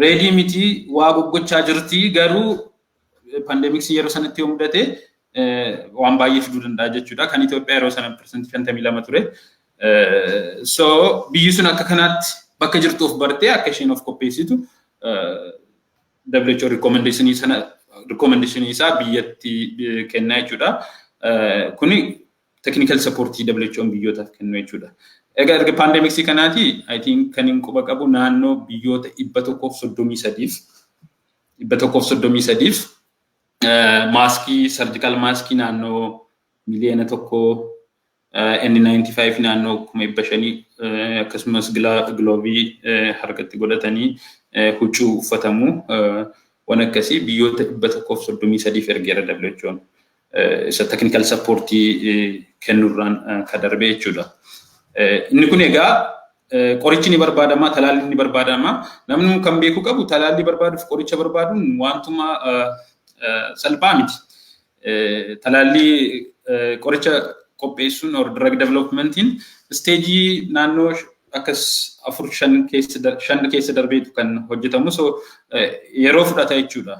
Speaker 2: reedii miti waa goggochaa jirti garuu pandeemiksii yeroo sanatti yoo mudate waan baay'ee fiduu danda'a jechuudha. Kan Itoophiyaa yeroo sana parsantii shantamii lama ture. So biyyi sun akka kanaatti bakka jirtu of bartee akka isheen of qopheessitu WHO recommendation sana recommendation isaa biyyatti kennaa jechuudha. Kuni technical support WHO biyyootaaf kennu jechuudha. Egaa erga pandemiksii kanaati I think kan hin quba qabu naannoo biyyoota dhibba tokkoof soddomii sadiif dhibba tokkoof soddomii sadiif maaskii sarjikaal maaskii naannoo miliyoona tokko N95 naannoo kuma dhibba shanii akkasumas giloovii harkatti godhatanii huccuu uffatamu waan akkasii biyyoota dhibba tokkoof soddomii sadiif ergeera WHO'n. Isa teknikal sappoortii kennurraan ka darbe jechuudha. Inni kun egaa qorichi ni barbaadama, talaalli ni barbaadama. Namni kan beekuu qabu talaallii barbaaduuf qoricha barbaaduun waantuma salphaa miti. Talaallii qoricha qopheessuun or drug developmentiin isteejii naannoo akkas afur shan keessa shan keessa darbeetu kan hojjetamu so yeroo fudhata jechuudha.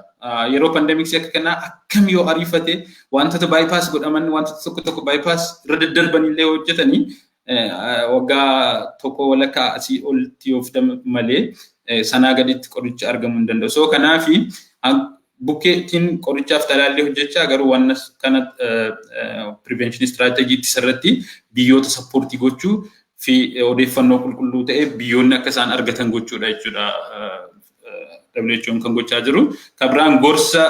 Speaker 2: Yeroo pandemiksii akka kanaa akkam yoo ariifate wantoota bypass godhaman wantoota tokko tokko bypass irra daddarban illee hojjetanii Waggaa tokko walakkaa asii olitti yoo fudhame malee sanaa gaditti qorichi argamuu hin danda'u. So kanaaf bukkeettiin qorichaaf talaallii hojjechaa garuu waan kana prevention strategy ittisa irratti biyyoota sappoortii gochuu fi odeeffannoo qulqulluu ta'e biyyoonni akka isaan argatan gochuudha jechuudha. WHO'n kan gochaa jiru. Kan biraan gorsa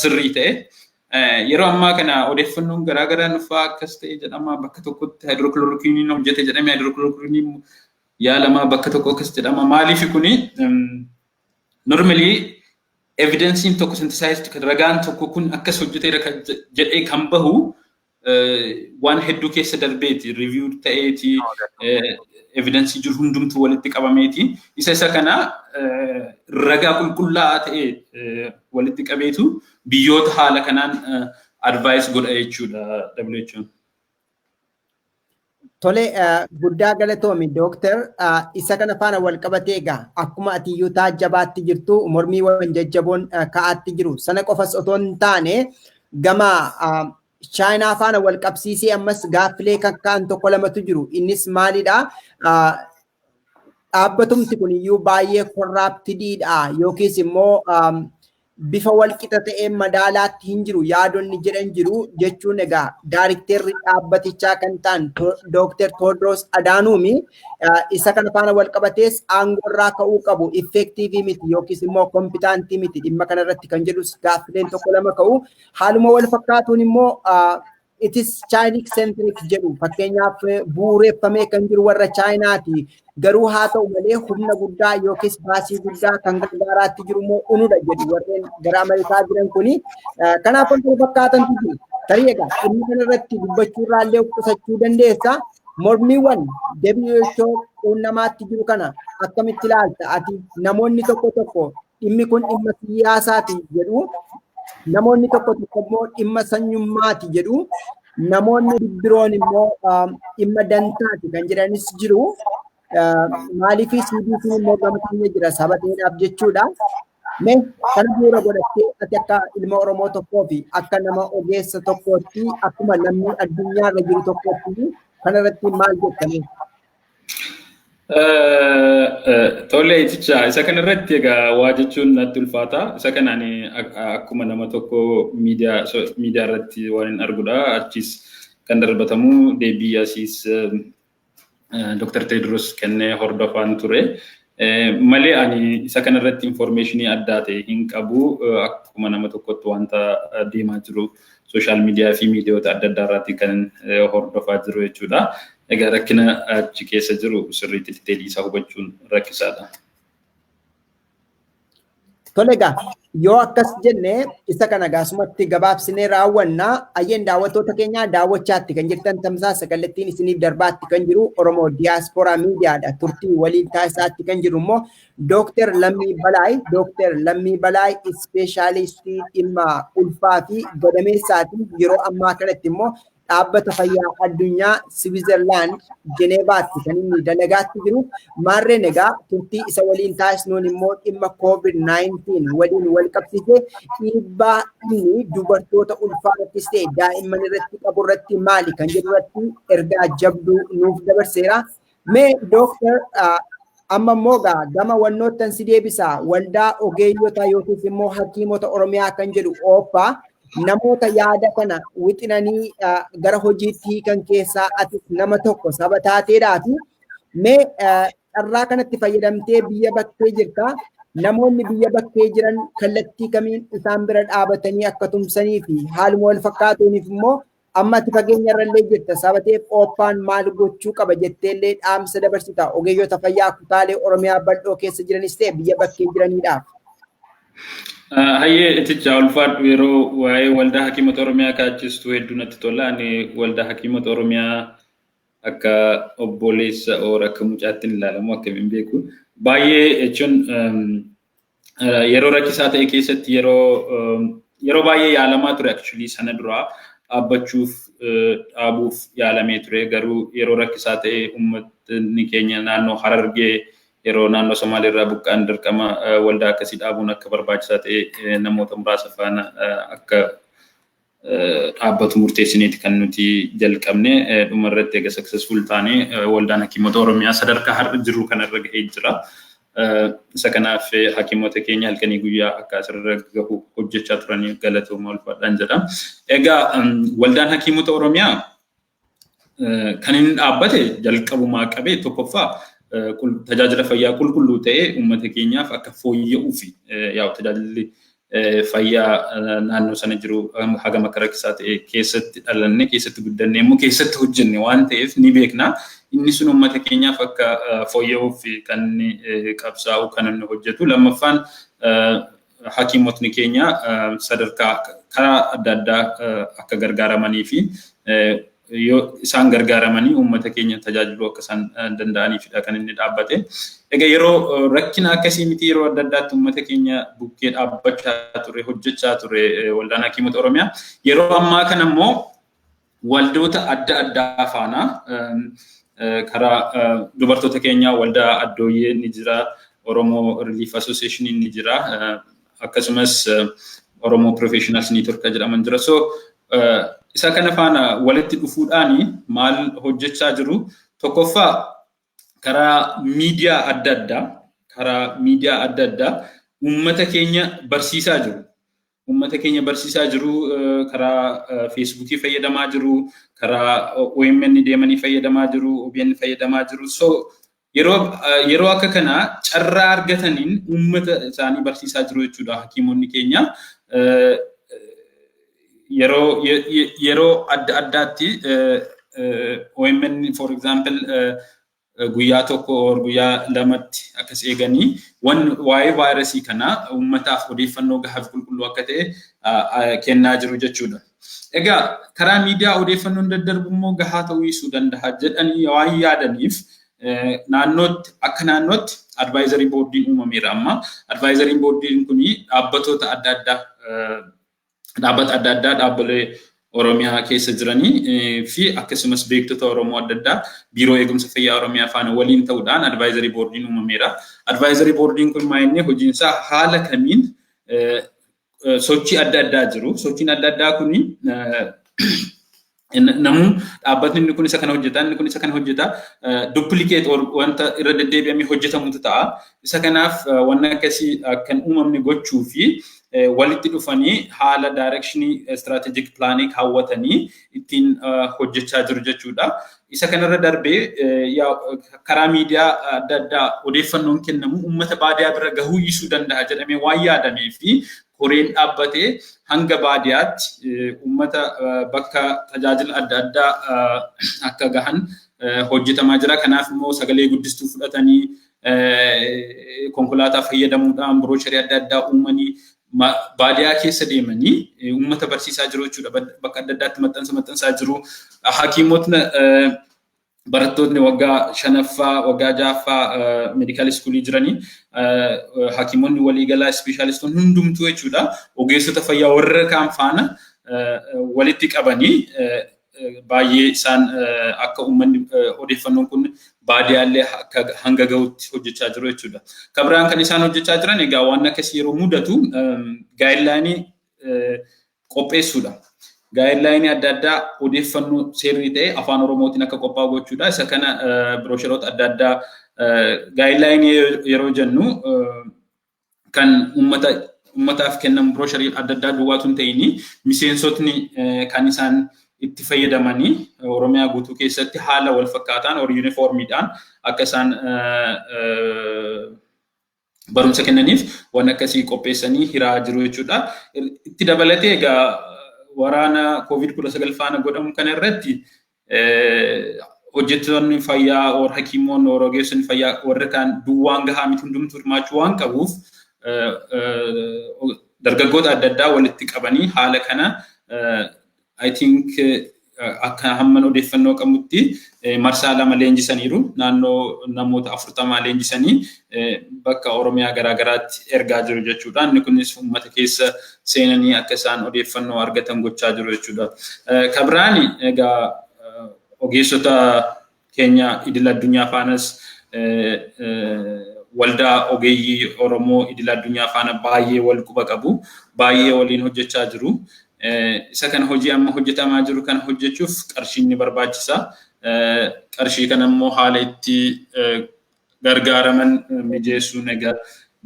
Speaker 2: sirrii ta'e Yeroo ammaa kana odeeffannoon garaa garaa nufaa akkas ta'e jedhama bakka tokkotti haayidirookiloorokiiniin hojjete jedhame haayidirookiloorokiiniin yaalamaa bakka tokko akkas jedhama maaliif kuni normally evidensiin tokko synthesized ragaan tokko kun akkas hojjeteera jedhee kan bahu waan hedduu keessa darbeeti review ta'eeti evidensii jiru hundumtuu walitti qabameeti isa isa kana ragaa qulqullaa'aa ta'e walitti qabeetu biyyoota haala kanaan advice godha jechuudha WHO'n.
Speaker 1: Tole guddaa galatoomi dooktar isa kana faana wal qabatee egaa akkuma ati iyyuu taajjabaatti jirtu mormii waan jajjaboon ka'aatti jiru sana qofas otoo hin taane gama chaayinaa faana wal qabsiisee ammas gaaffilee kan ka'an tokko lamatu jiru innis maalidha dhaabbatumti kun iyyuu baay'ee korraaptidiidha yookiis immoo bifa walqixa ta'een madaalaatti hin jiru yaadonni jedhan jiru jechuun egaa daarikteerri dhaabbatichaa kan ta'an Dooktar Toodroos Adaanuumi isa kana faana walqabatees aangoorraa ka'uu qabu effektiivii miti yookiis immoo kompitaantii miti dhimma kanarratti kan jedhus gaaffileen tokko lama ka'u haaluma wal fakkaatuun immoo itis chaayiniik seentirik jedhu fakkeenyaaf bu'uureffamee kan jiru warra chaayinaati. Garuu haa ta'u malee humna guddaa yookiis baasii guddaa kan gargaaraatti jiru immoo unudha jedhu warreen gara Ameerikaa jiran kuni. Kanaaf wantoota fakkaatantu jiru. Tarii egaa dhimma kanarratti dubbachuu irraa illee of qusachuu dandeessa. Mormiiwwan WHO quunnamaatti jiru kana akkamitti ilaalta? Ati namoonni tokko tokko dhimmi kun dhimma siyaasaati jedhu namoonni tokko tokko immoo dhimma sanyummaati jedhu namoonni biroon immoo dhimma dantaati kan jedhanis jiru maaliif CBC immoo gama keenya jira saba ta'eedhaaf jechuudha. Mee kana bu'uura godhattee ati akka ilma Oromoo tokkoo fi akka nama ogeessa tokkootti akkuma lammii addunyaa irra jiru tokkootti kanarratti maal jettanii?
Speaker 2: Tole iticha isa kana irratti egaa waa jechuun natti ulfaata. Isa kana ani akkuma nama tokko miidiyaa miidiyaa irratti waan hin arguudha. Achiis kan darbatamu deebii asiis Dr. Teediroos kennee hordofaan ture. Malee ani isa kana irratti information addaa ta'e hin qabu. Akkuma nama tokkotti wanta deemaa jiru sooshaal miidiyaa fi miidiyoota adda addaa irratti kan hordofaa jiru jechuudha. Egaa rakkina achi keessa jiru sirriitti diteelii isaa hubachuun rakkisaadha. Tole
Speaker 1: egaa yoo akkas jenne isa kana gaasumatti gabaabsinee raawwanna ayyeen daawwattoota keenyaa daawwachaatti kan jirtan tamsaasa kallattiin isiniif darbaatti kan jiru Oromoo Diyaaspooraa Miidiyaadha turtii waliin taasisaatti kan jiru immoo Dooktar Lammii Balaay Dooktar Lammii Balaay ispeeshaalistii dhimma ulfaa fi gadameessaati yeroo ammaa kanatti immoo Dhaabbata Fayyaa Addunyaa Siwiizerlaand Jeneevaatti kan inni dalagaatti jiru maarreen egaa turtii isa waliin taasisnuun immoo dhimma COVID-19 waliin wal qabsiisee dhiibbaa inni dubartoota ulfaa irrattis ta'e daa'imman irratti qabu irratti maali kan jedhu irratti ergaa jabduu nuuf dabarseera. Mee dooktar amma immoo gaa gama wannoottan si deebisa waldaa ogeeyyota yookiis immoo hakiimota Oromiyaa kan jedhu ooppa namoota yaada kana wixinanii gara hojiitti hiikan keessaa ati nama tokko saba taateedhaati. Mee carraa kanatti fayyadamtee biyya bakkee jirta. Namoonni biyya bakkee jiran kallattii kamiin isaan bira dhaabatanii akka tumsanii fi haaluma wal fakkaatuuniif immoo Amma ati fageenya irrallee jirta saba ta'eef Ooppaan maal gochuu qaba jetteellee dhaamsa dabarsita ogeeyyota fayyaa kutaalee Oromiyaa bal'oo keessa jiranis ta'e biyya bakkee jiraniidhaaf. Hayyee
Speaker 2: itichaa ulfaadhu yeroo waa'ee waldaa hakiimota Oromiyaa kaachistu hedduu natti tola. Ani waldaa hakiimota Oromiyaa akka obboleessa oora akka mucaatti hin ilaalamu akkamiin beeku. Baay'ee jechuun yeroo rakkisaa ta'e keessatti yeroo yeroo baay'ee yaalamaa ture actually sana duraa dhaabbachuuf dhaabuuf yaalamee ture garuu yeroo rakkisaa ta'e uummatni keenya naannoo harargee yeroo naannoo Somaalee irraa buqqaan dirqama waldaa akkasii dhaabuun akka barbaachisaa ta'e namoota muraasa faana akka dhaabbatu murteessineeti kan nuti jalqabne dhuma irratti egaa successful taane waldaan hakiimota Oromiyaa sadarkaa har'a jirru kanarra gahee jira. Isa kanaaf hakiimota keenya halkanii guyyaa akka asirra gahu hojjechaa turanii galatooma ulfaadhaan jedha. Egaa waldaan hakiimota Oromiyaa kan inni dhaabbate jalqabumaa qabee tokkoffaa tajaajila fayyaa qulqulluu ta'ee uummata keenyaaf akka fooyya'uu fi yaa'u tajaajilli fayyaa naannoo sana jiru hagam akka rakkisaa ta'e keessatti dhalanne keessatti guddanne immoo keessatti hojjenne waan ta'eef ni beekna. Inni sun uummata keenyaaf akka fooyya'uuf kan inni qabsaa'u kan inni hojjetu. Lammaffaan hakiimotni keenya sadarkaa karaa adda addaa akka gargaaramanii fi yoo isaan gargaaramanii uummata keenya tajaajiluu akka isaan danda'aniifidha kan inni dhaabbate. Egaa yeroo rakkina akkasii miti yeroo adda addaatti uummata keenya bukkee dhaabbachaa ture hojjechaa ture waldaan hakiimota Oromiyaa. Yeroo ammaa kana immoo Waldoota adda addaa faana karaa dubartoota keenyaa waldaa addooyyee ni jira, Oromoo Relief Association ni jira, akkasumas Oromoo Professionals Network jedhaman jira. So isa kana faana walitti dhufuudhaan maal hojjechaa jiru? Tokkoffaa karaa miidiyaa adda addaa karaa miidiyaa adda addaa uummata keenya barsiisaa jiru. Uummata keenya barsiisaa jiru, karaa Feesbuukii fayyadamaa jiru, karaa OMN deemanii fayyadamaa jiru, OBN fayyadamaa jiru. So yeroo yeroo akka kana carraa argataniin uummata isaanii barsiisaa jiru jechuudha hakiimonni keenya. Yeroo yeroo adda addaatti OMN for example guyyaa tokko or guyyaa lamatti akkas eeganii wan waa'ee vaayirasii kanaa uummataaf odeeffannoo gahaaf qulqulluu akka ta'e kennaa jiru jechuudha. Egaa karaa miidiyaa odeeffannoon daddarbu immoo gahaa ta'uu dhiisuu danda'a jedhanii waan yaadaniif naannootti akka naannootti advaayizarii boordiin uumameera amma. Advaayizariin boordiin kun dhaabbatoota adda addaa dhaabbata adda addaa dhaabbilee Oromiyaa keessa jiranii fi akkasumas beektota Oromoo adda addaa Biiroo Eegumsa Fayyaa Oromiyaa faana waliin ta'uudhaan advaayizarii boordiin uumameera. Advaayizarii boordiin kun maayinni hojiinsaa haala kamiin sochii adda addaa jiru. Sochiin adda addaa kun Namuu dhaabbatni inni kun isa kana hojjeta, inni kun isa kana hojjeta, duplicate or wanta irra deddeebi'amee hojjetamutu ta'a. Isa kanaaf wanna akkasii kan uumamne gochuu fi walitti dhufanii haala directionii strategic planning kaawwatanii ittiin hojjechaa jiru jechuudha. Isa kanarra darbee karaa miidiyaa adda addaa odeeffannoon kennamu uummata baadiyaa bira gahuu dhiisuu danda'a jedhamee waan yaadamee fi koreen dhaabbate hanga baadiyaatti uummata bakka tajaajila adda addaa akka gahan hojjetamaa jira. Kanaaf immoo sagalee guddistuu fudhatanii konkolaataa fayyadamuudhaan biroocharii adda addaa uumanii baadiyaa keessa deemanii uummata barsiisaa jiru jechuudha. Bakka adda addaatti maxxansa maxxansaa jiru. Hakiimotni barattootni waggaa shanaffaa waggaa ja'affaa meedikaal iskuulii jiranii hakiimonni waliigalaa ispeeshaalistoonni hundumtuu jechuudha ogeessota fayyaa warra kaan faana walitti qabanii baay'ee isaan akka uummanni odeeffannoon kun baadiyaallee akka hanga gahutti hojjechaa jiru jechuudha. Kabiraan kan isaan hojjechaa jiran egaa waan akkasii yeroo mudatu gaayidlaayinii qopheessuudha. Gaayidlaayinii adda addaa odeeffannoo seerrii ta'e afaan Oromootiin akka qophaa'u gochuudha. Isa kana biroosheroota adda addaa gaayidlaayinii yeroo jennu kan uummata uummataaf kennamu biroosherii adda addaa duwwaatu hin ta'ini miseensotni kan isaan itti fayyadamanii Oromiyaa guutuu keessatti haala wal fakkaataan or yuunifoormiidhaan akka isaan barumsa kennaniif waan akkasii qopheessanii hiraa jiru jechuudha. Itti dabalatee egaa waraana koovid kudha sagal faana godhamu kana irratti hojjettoonni fayyaa or hakiimoonni or ogeessonni fayyaa warri kaan duwwaan gahaa miti hundumtuu hirmaachuu waan qabuuf dargaggoota adda addaa walitti qabanii haala kana I think akka hamman odeeffannoo qabutti marsaa lama leenjisaniiru. Naannoo namoota afurtamaa leenjisanii bakka Oromiyaa garaagaraatti ergaa jiru jechuudha. Inni kunis uummata keessa seenanii akka isaan odeeffannoo argatan gochaa jiru jechuudha. Kabiraani egaa ogeessota keenya idil addunyaa faanas waldaa ogeeyyii Oromoo idil addunyaa faana baay'ee wal quba qabu. Baay'ee waliin hojjechaa jiru. Isa kana hojii amma hojjetamaa jiru kana hojjechuuf qarshiin ni barbaachisa. Qarshii kana immoo haala itti gargaaraman mijeessuun egaa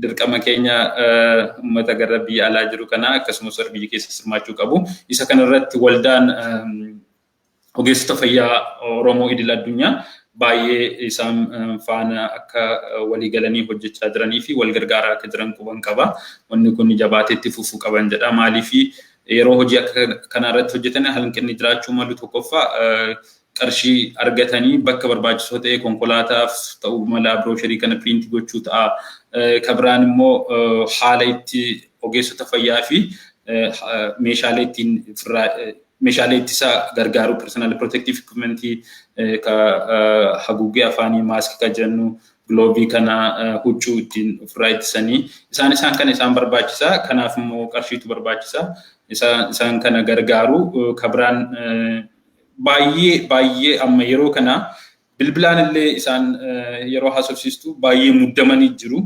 Speaker 2: dirqama keenya uummata gara biyya alaa jiru kana akkasumas warra biyya keessa hirmaachuu qabu. Isa kanarratti waldaan ogeessota fayyaa Oromoo idil addunyaa baay'ee isaan faana akka walii galanii hojjechaa jiranii fi wal gargaaraa akka jiran quban qaba. Wanni kun jabaateetti fufuu qaban jedha. Maaliif yeroo hojii akka kanaa irratti hojjetan hanqinni jiraachuu malu tokkoffaa qarshii argatanii bakka barbaachisoo ta'e konkolaataaf ta'uu mala biroosharii kana piriinti gochuu ta'a. Ka biraan immoo haala itti ogeessota fayyaa fi meeshaalee ittiin Meeshaalee ittisa gargaaru personal protective equipment ka haguuggee afaanii maaskii ka jennu giloovii kana huccuu ittiin ofirraa ittisanii isaan isaan kana isaan barbaachisa kanaaf immoo qarshiitu barbaachisa isaan kana gargaaru ka biraan baay'ee baay'ee amma yeroo kana Bilbilaan illee isaan yeroo haasofsiistu baay'ee muddamanii jiru.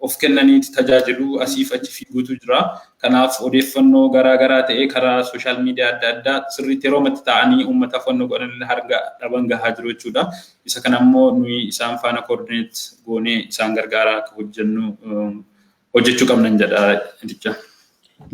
Speaker 2: Of kennanii tajaajilu asiif achi fiiguutu jira. Kanaaf odeeffannoo garaa garaa ta'ee karaa sooshaal miidiyaa adda addaa sirriitti yeroo matti taa'anii uummata fannoo godhan illee harga dhaban gahaa jiru jechuudha. Isa kana immoo nuyi isaan faana koordineet goonee isaan gargaaraa akka hojjennu hojjechuu qabnan jedha jecha.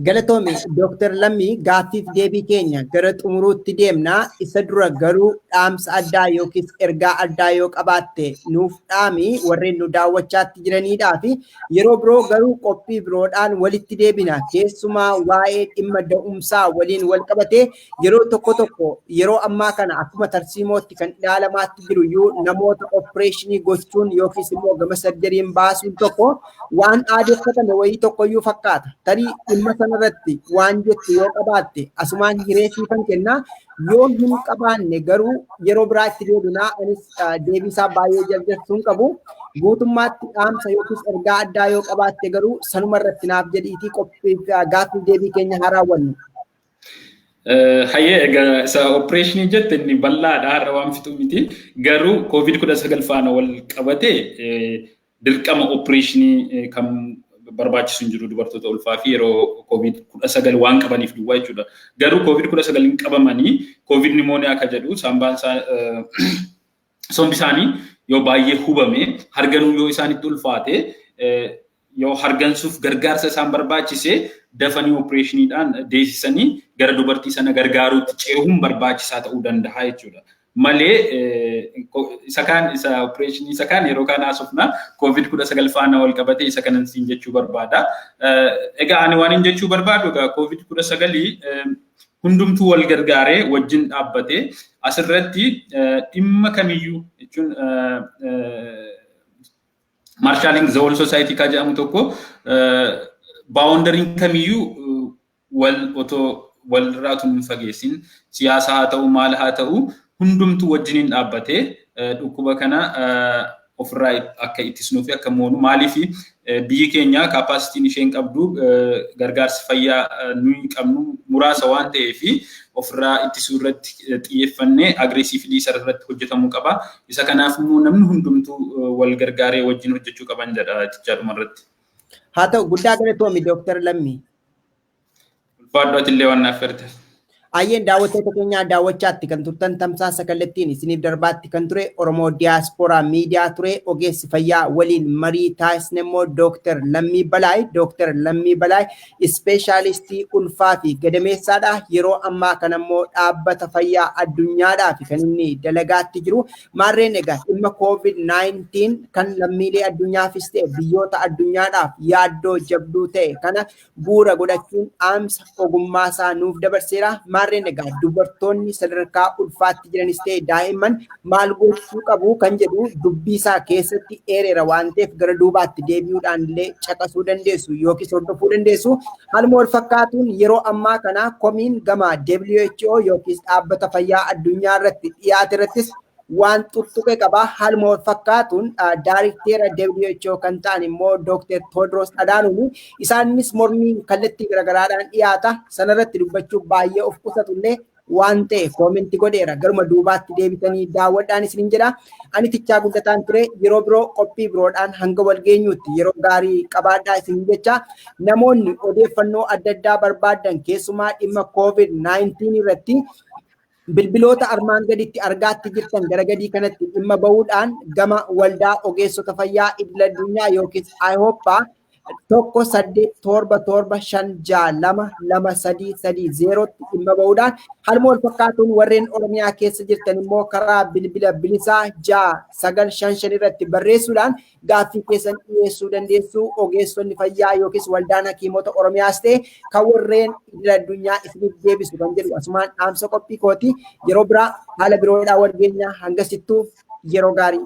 Speaker 2: Galatoomi
Speaker 1: Dooktar Lammii gaaffiif deebii keenya gara xumuruutti deemna. Isa dura garuu dhaamsa addaa yookiis ergaa addaa yoo qabaatte nuuf dhaami warreen nu daawwachaatti jiraniidhaa fi yeroo biroo garuu qophii biroodhaan walitti deebina. Keessumaa waa'ee dhimma da'umsaa waliin wal qabatee Yeroo tokko tokko yeroo ammaa kana akkuma tarsiimootti kan ilaalamaatti jiru iyyuu namoota opereeshinii gochuun yookiis immoo gama sarjariin baasuun tokko waan aadeffatame wayii tokko iyyuu fakkaata. Tarii dhimma sanarratti waan jettu yoo qabaatte asumaan hiree siifan kennaa yoo hin qabaanne garuu yeroo biraa itti deebinaa anis deebiisaa baay'ee jarjartuu hin qabu. Guutummaatti dhaamsa yookiis ergaa addaa yoo qabaatte garuu sanuma irratti naaf jedhiitii qophii gaaffii deebii keenya haa raawwannu. Hayyee
Speaker 2: egaa isa opereeshinii jette inni bal'aadha har'a waan fixu miti garuu koovid kudha sagal faana wal qabate dirqama opereeshinii kan barbaachisu hin jiru dubartoota ulfaa fi yeroo koovid kudha sagal waan qabaniif duwwaa jechuudha. Garuu koovid kudha sagal hin qabamanii koovid nimooniyaa akka jedhu saambaan isaa sombi isaanii yoo baay'ee hubame harganuu yoo isaanitti ulfaate yoo hargansuuf gargaarsa isaan barbaachise dafanii opereeshiniidhaan deessisanii gara dubartii sana gargaaruutti ceehuun barbaachisaa ta'uu danda'a jechuudha. Malee isa kaan isa opereeshinii isa kaan yeroo kaan haasofna koovid kudha sagal faana wal qabatee isa kanan siin jechuu barbaada. Egaa ani waan hin jechuu barbaadu egaa koovid kudha sagalii hundumtuu wal gargaaree wajjin dhaabbatee asirratti dhimma kamiyyuu jechuun Marshalling the whole society ka jedhamu tokko baawondariin kamiyyuu wal otoo wal irraa tun hin fageessin siyaasa haa ta'u maal haa ta'u hundumtu wajjiniin dhaabbatee dhukkuba kana ofirraa akka ittisnuu fi akka moonu maaliif biyyi keenya kaapaasitiin isheen qabdu gargaarsi fayyaa nuyi qabnu muraasa waan ta'ee fi ofirraa ittisuu irratti xiyyeeffannee agreesiifilii isa irratti hojjetamuu qaba. Isa kanaaf immoo namni hundumtuu wal gargaaree wajjin hojjechuu qaban jedha jechaa dhumarratti. Haa ta'u
Speaker 1: guddaa galatoomi Dooktar Lammii.
Speaker 2: Ulfaadhu atillee waan naaf ferte. Ayyeen
Speaker 1: daawwattoota keenyaa daawwachaatti kan turtan tamsaasa kallattiin isiniif darbaatti kan ture Oromoo Diyaaspooraa Miidiyaa ture ogeessi fayyaa waliin marii taasisne immoo Dooktar Lammii Balaay. Dooktar Lammii Balaay Ispeeshaalistii ulfaa fi gadameessaadha. Yeroo ammaa kana immoo dhaabbata fayyaa addunyaadhaaf kan inni dalagaatti jiru. Maarreen egaa dhimma COVID-19 kan lammiilee addunyaafis ta'e biyyoota addunyaadhaaf yaaddoo jabduu ta'e kana bu'uura godhachuun dhaamsa ogummaa isaa nuuf dabarseera. Maarreen egaa dubartoonni sadarkaa ulfaatti jiranis ta'e daa'imman maal gochuu qabu kan jedhu dubbii isaa keessatti eereera waan ta'eef gara duubaatti deebi'uudhaan illee caqasuu dandeessu yookiis hordofuu dandeessu. Haaluma wal fakkaatuun yeroo ammaa kana komiin gama WHO yookiis dhaabbata fayyaa addunyaa irratti dhiyaate irrattis waan tuttuqe qaba. Haaluma wal fakkaatuun daarikteera WHO kan ta'an immoo Dr. Tewodiroos Adhaanoom isaanis mormiin kallattii garaagaraadhaan dhiyaata. Sanarratti dubbachuuf baay'ee of qusatu illee waan ta'eef koomenti godheera garuma duubaatti deebitanii daawwadhaan isinin jedha. Ani tichaa guddataan ture yeroo biroo qophii biroodhaan hanga wal geenyuutti yeroo gaarii qabaadhaa isin jecha namoonni odeeffannoo adda addaa barbaadan keessumaa dhimma COVID-19 irratti bilbiloota armaan gaditti argaatti jirtan gara gadii kanatti dhimma bahuudhaan gama waldaa ogeessota fayyaa idil addunyaa yookiis IHOPA tokko saddeet torba torba shan ja'a lama lama sadii sadii zeerootti dhimma ba'uudhaan haaluma wal fakkaatuun warreen Oromiyaa keessa jirtan immoo karaa bilbila bilisaa ja'a sagal shan shan irratti barreessuudhaan gaaffii keessan dhiyeessuu dandeessu ogeessonni fayyaa yookiis waldaan hakiimota Oromiyaas ta'e kan warreen idil addunyaa isiniif deebisu kan jedhu asumaan dhaamsa qophii kooti yeroo biraa haala biroodhaa wal geenyaa hangasittuu yeroo gaarii.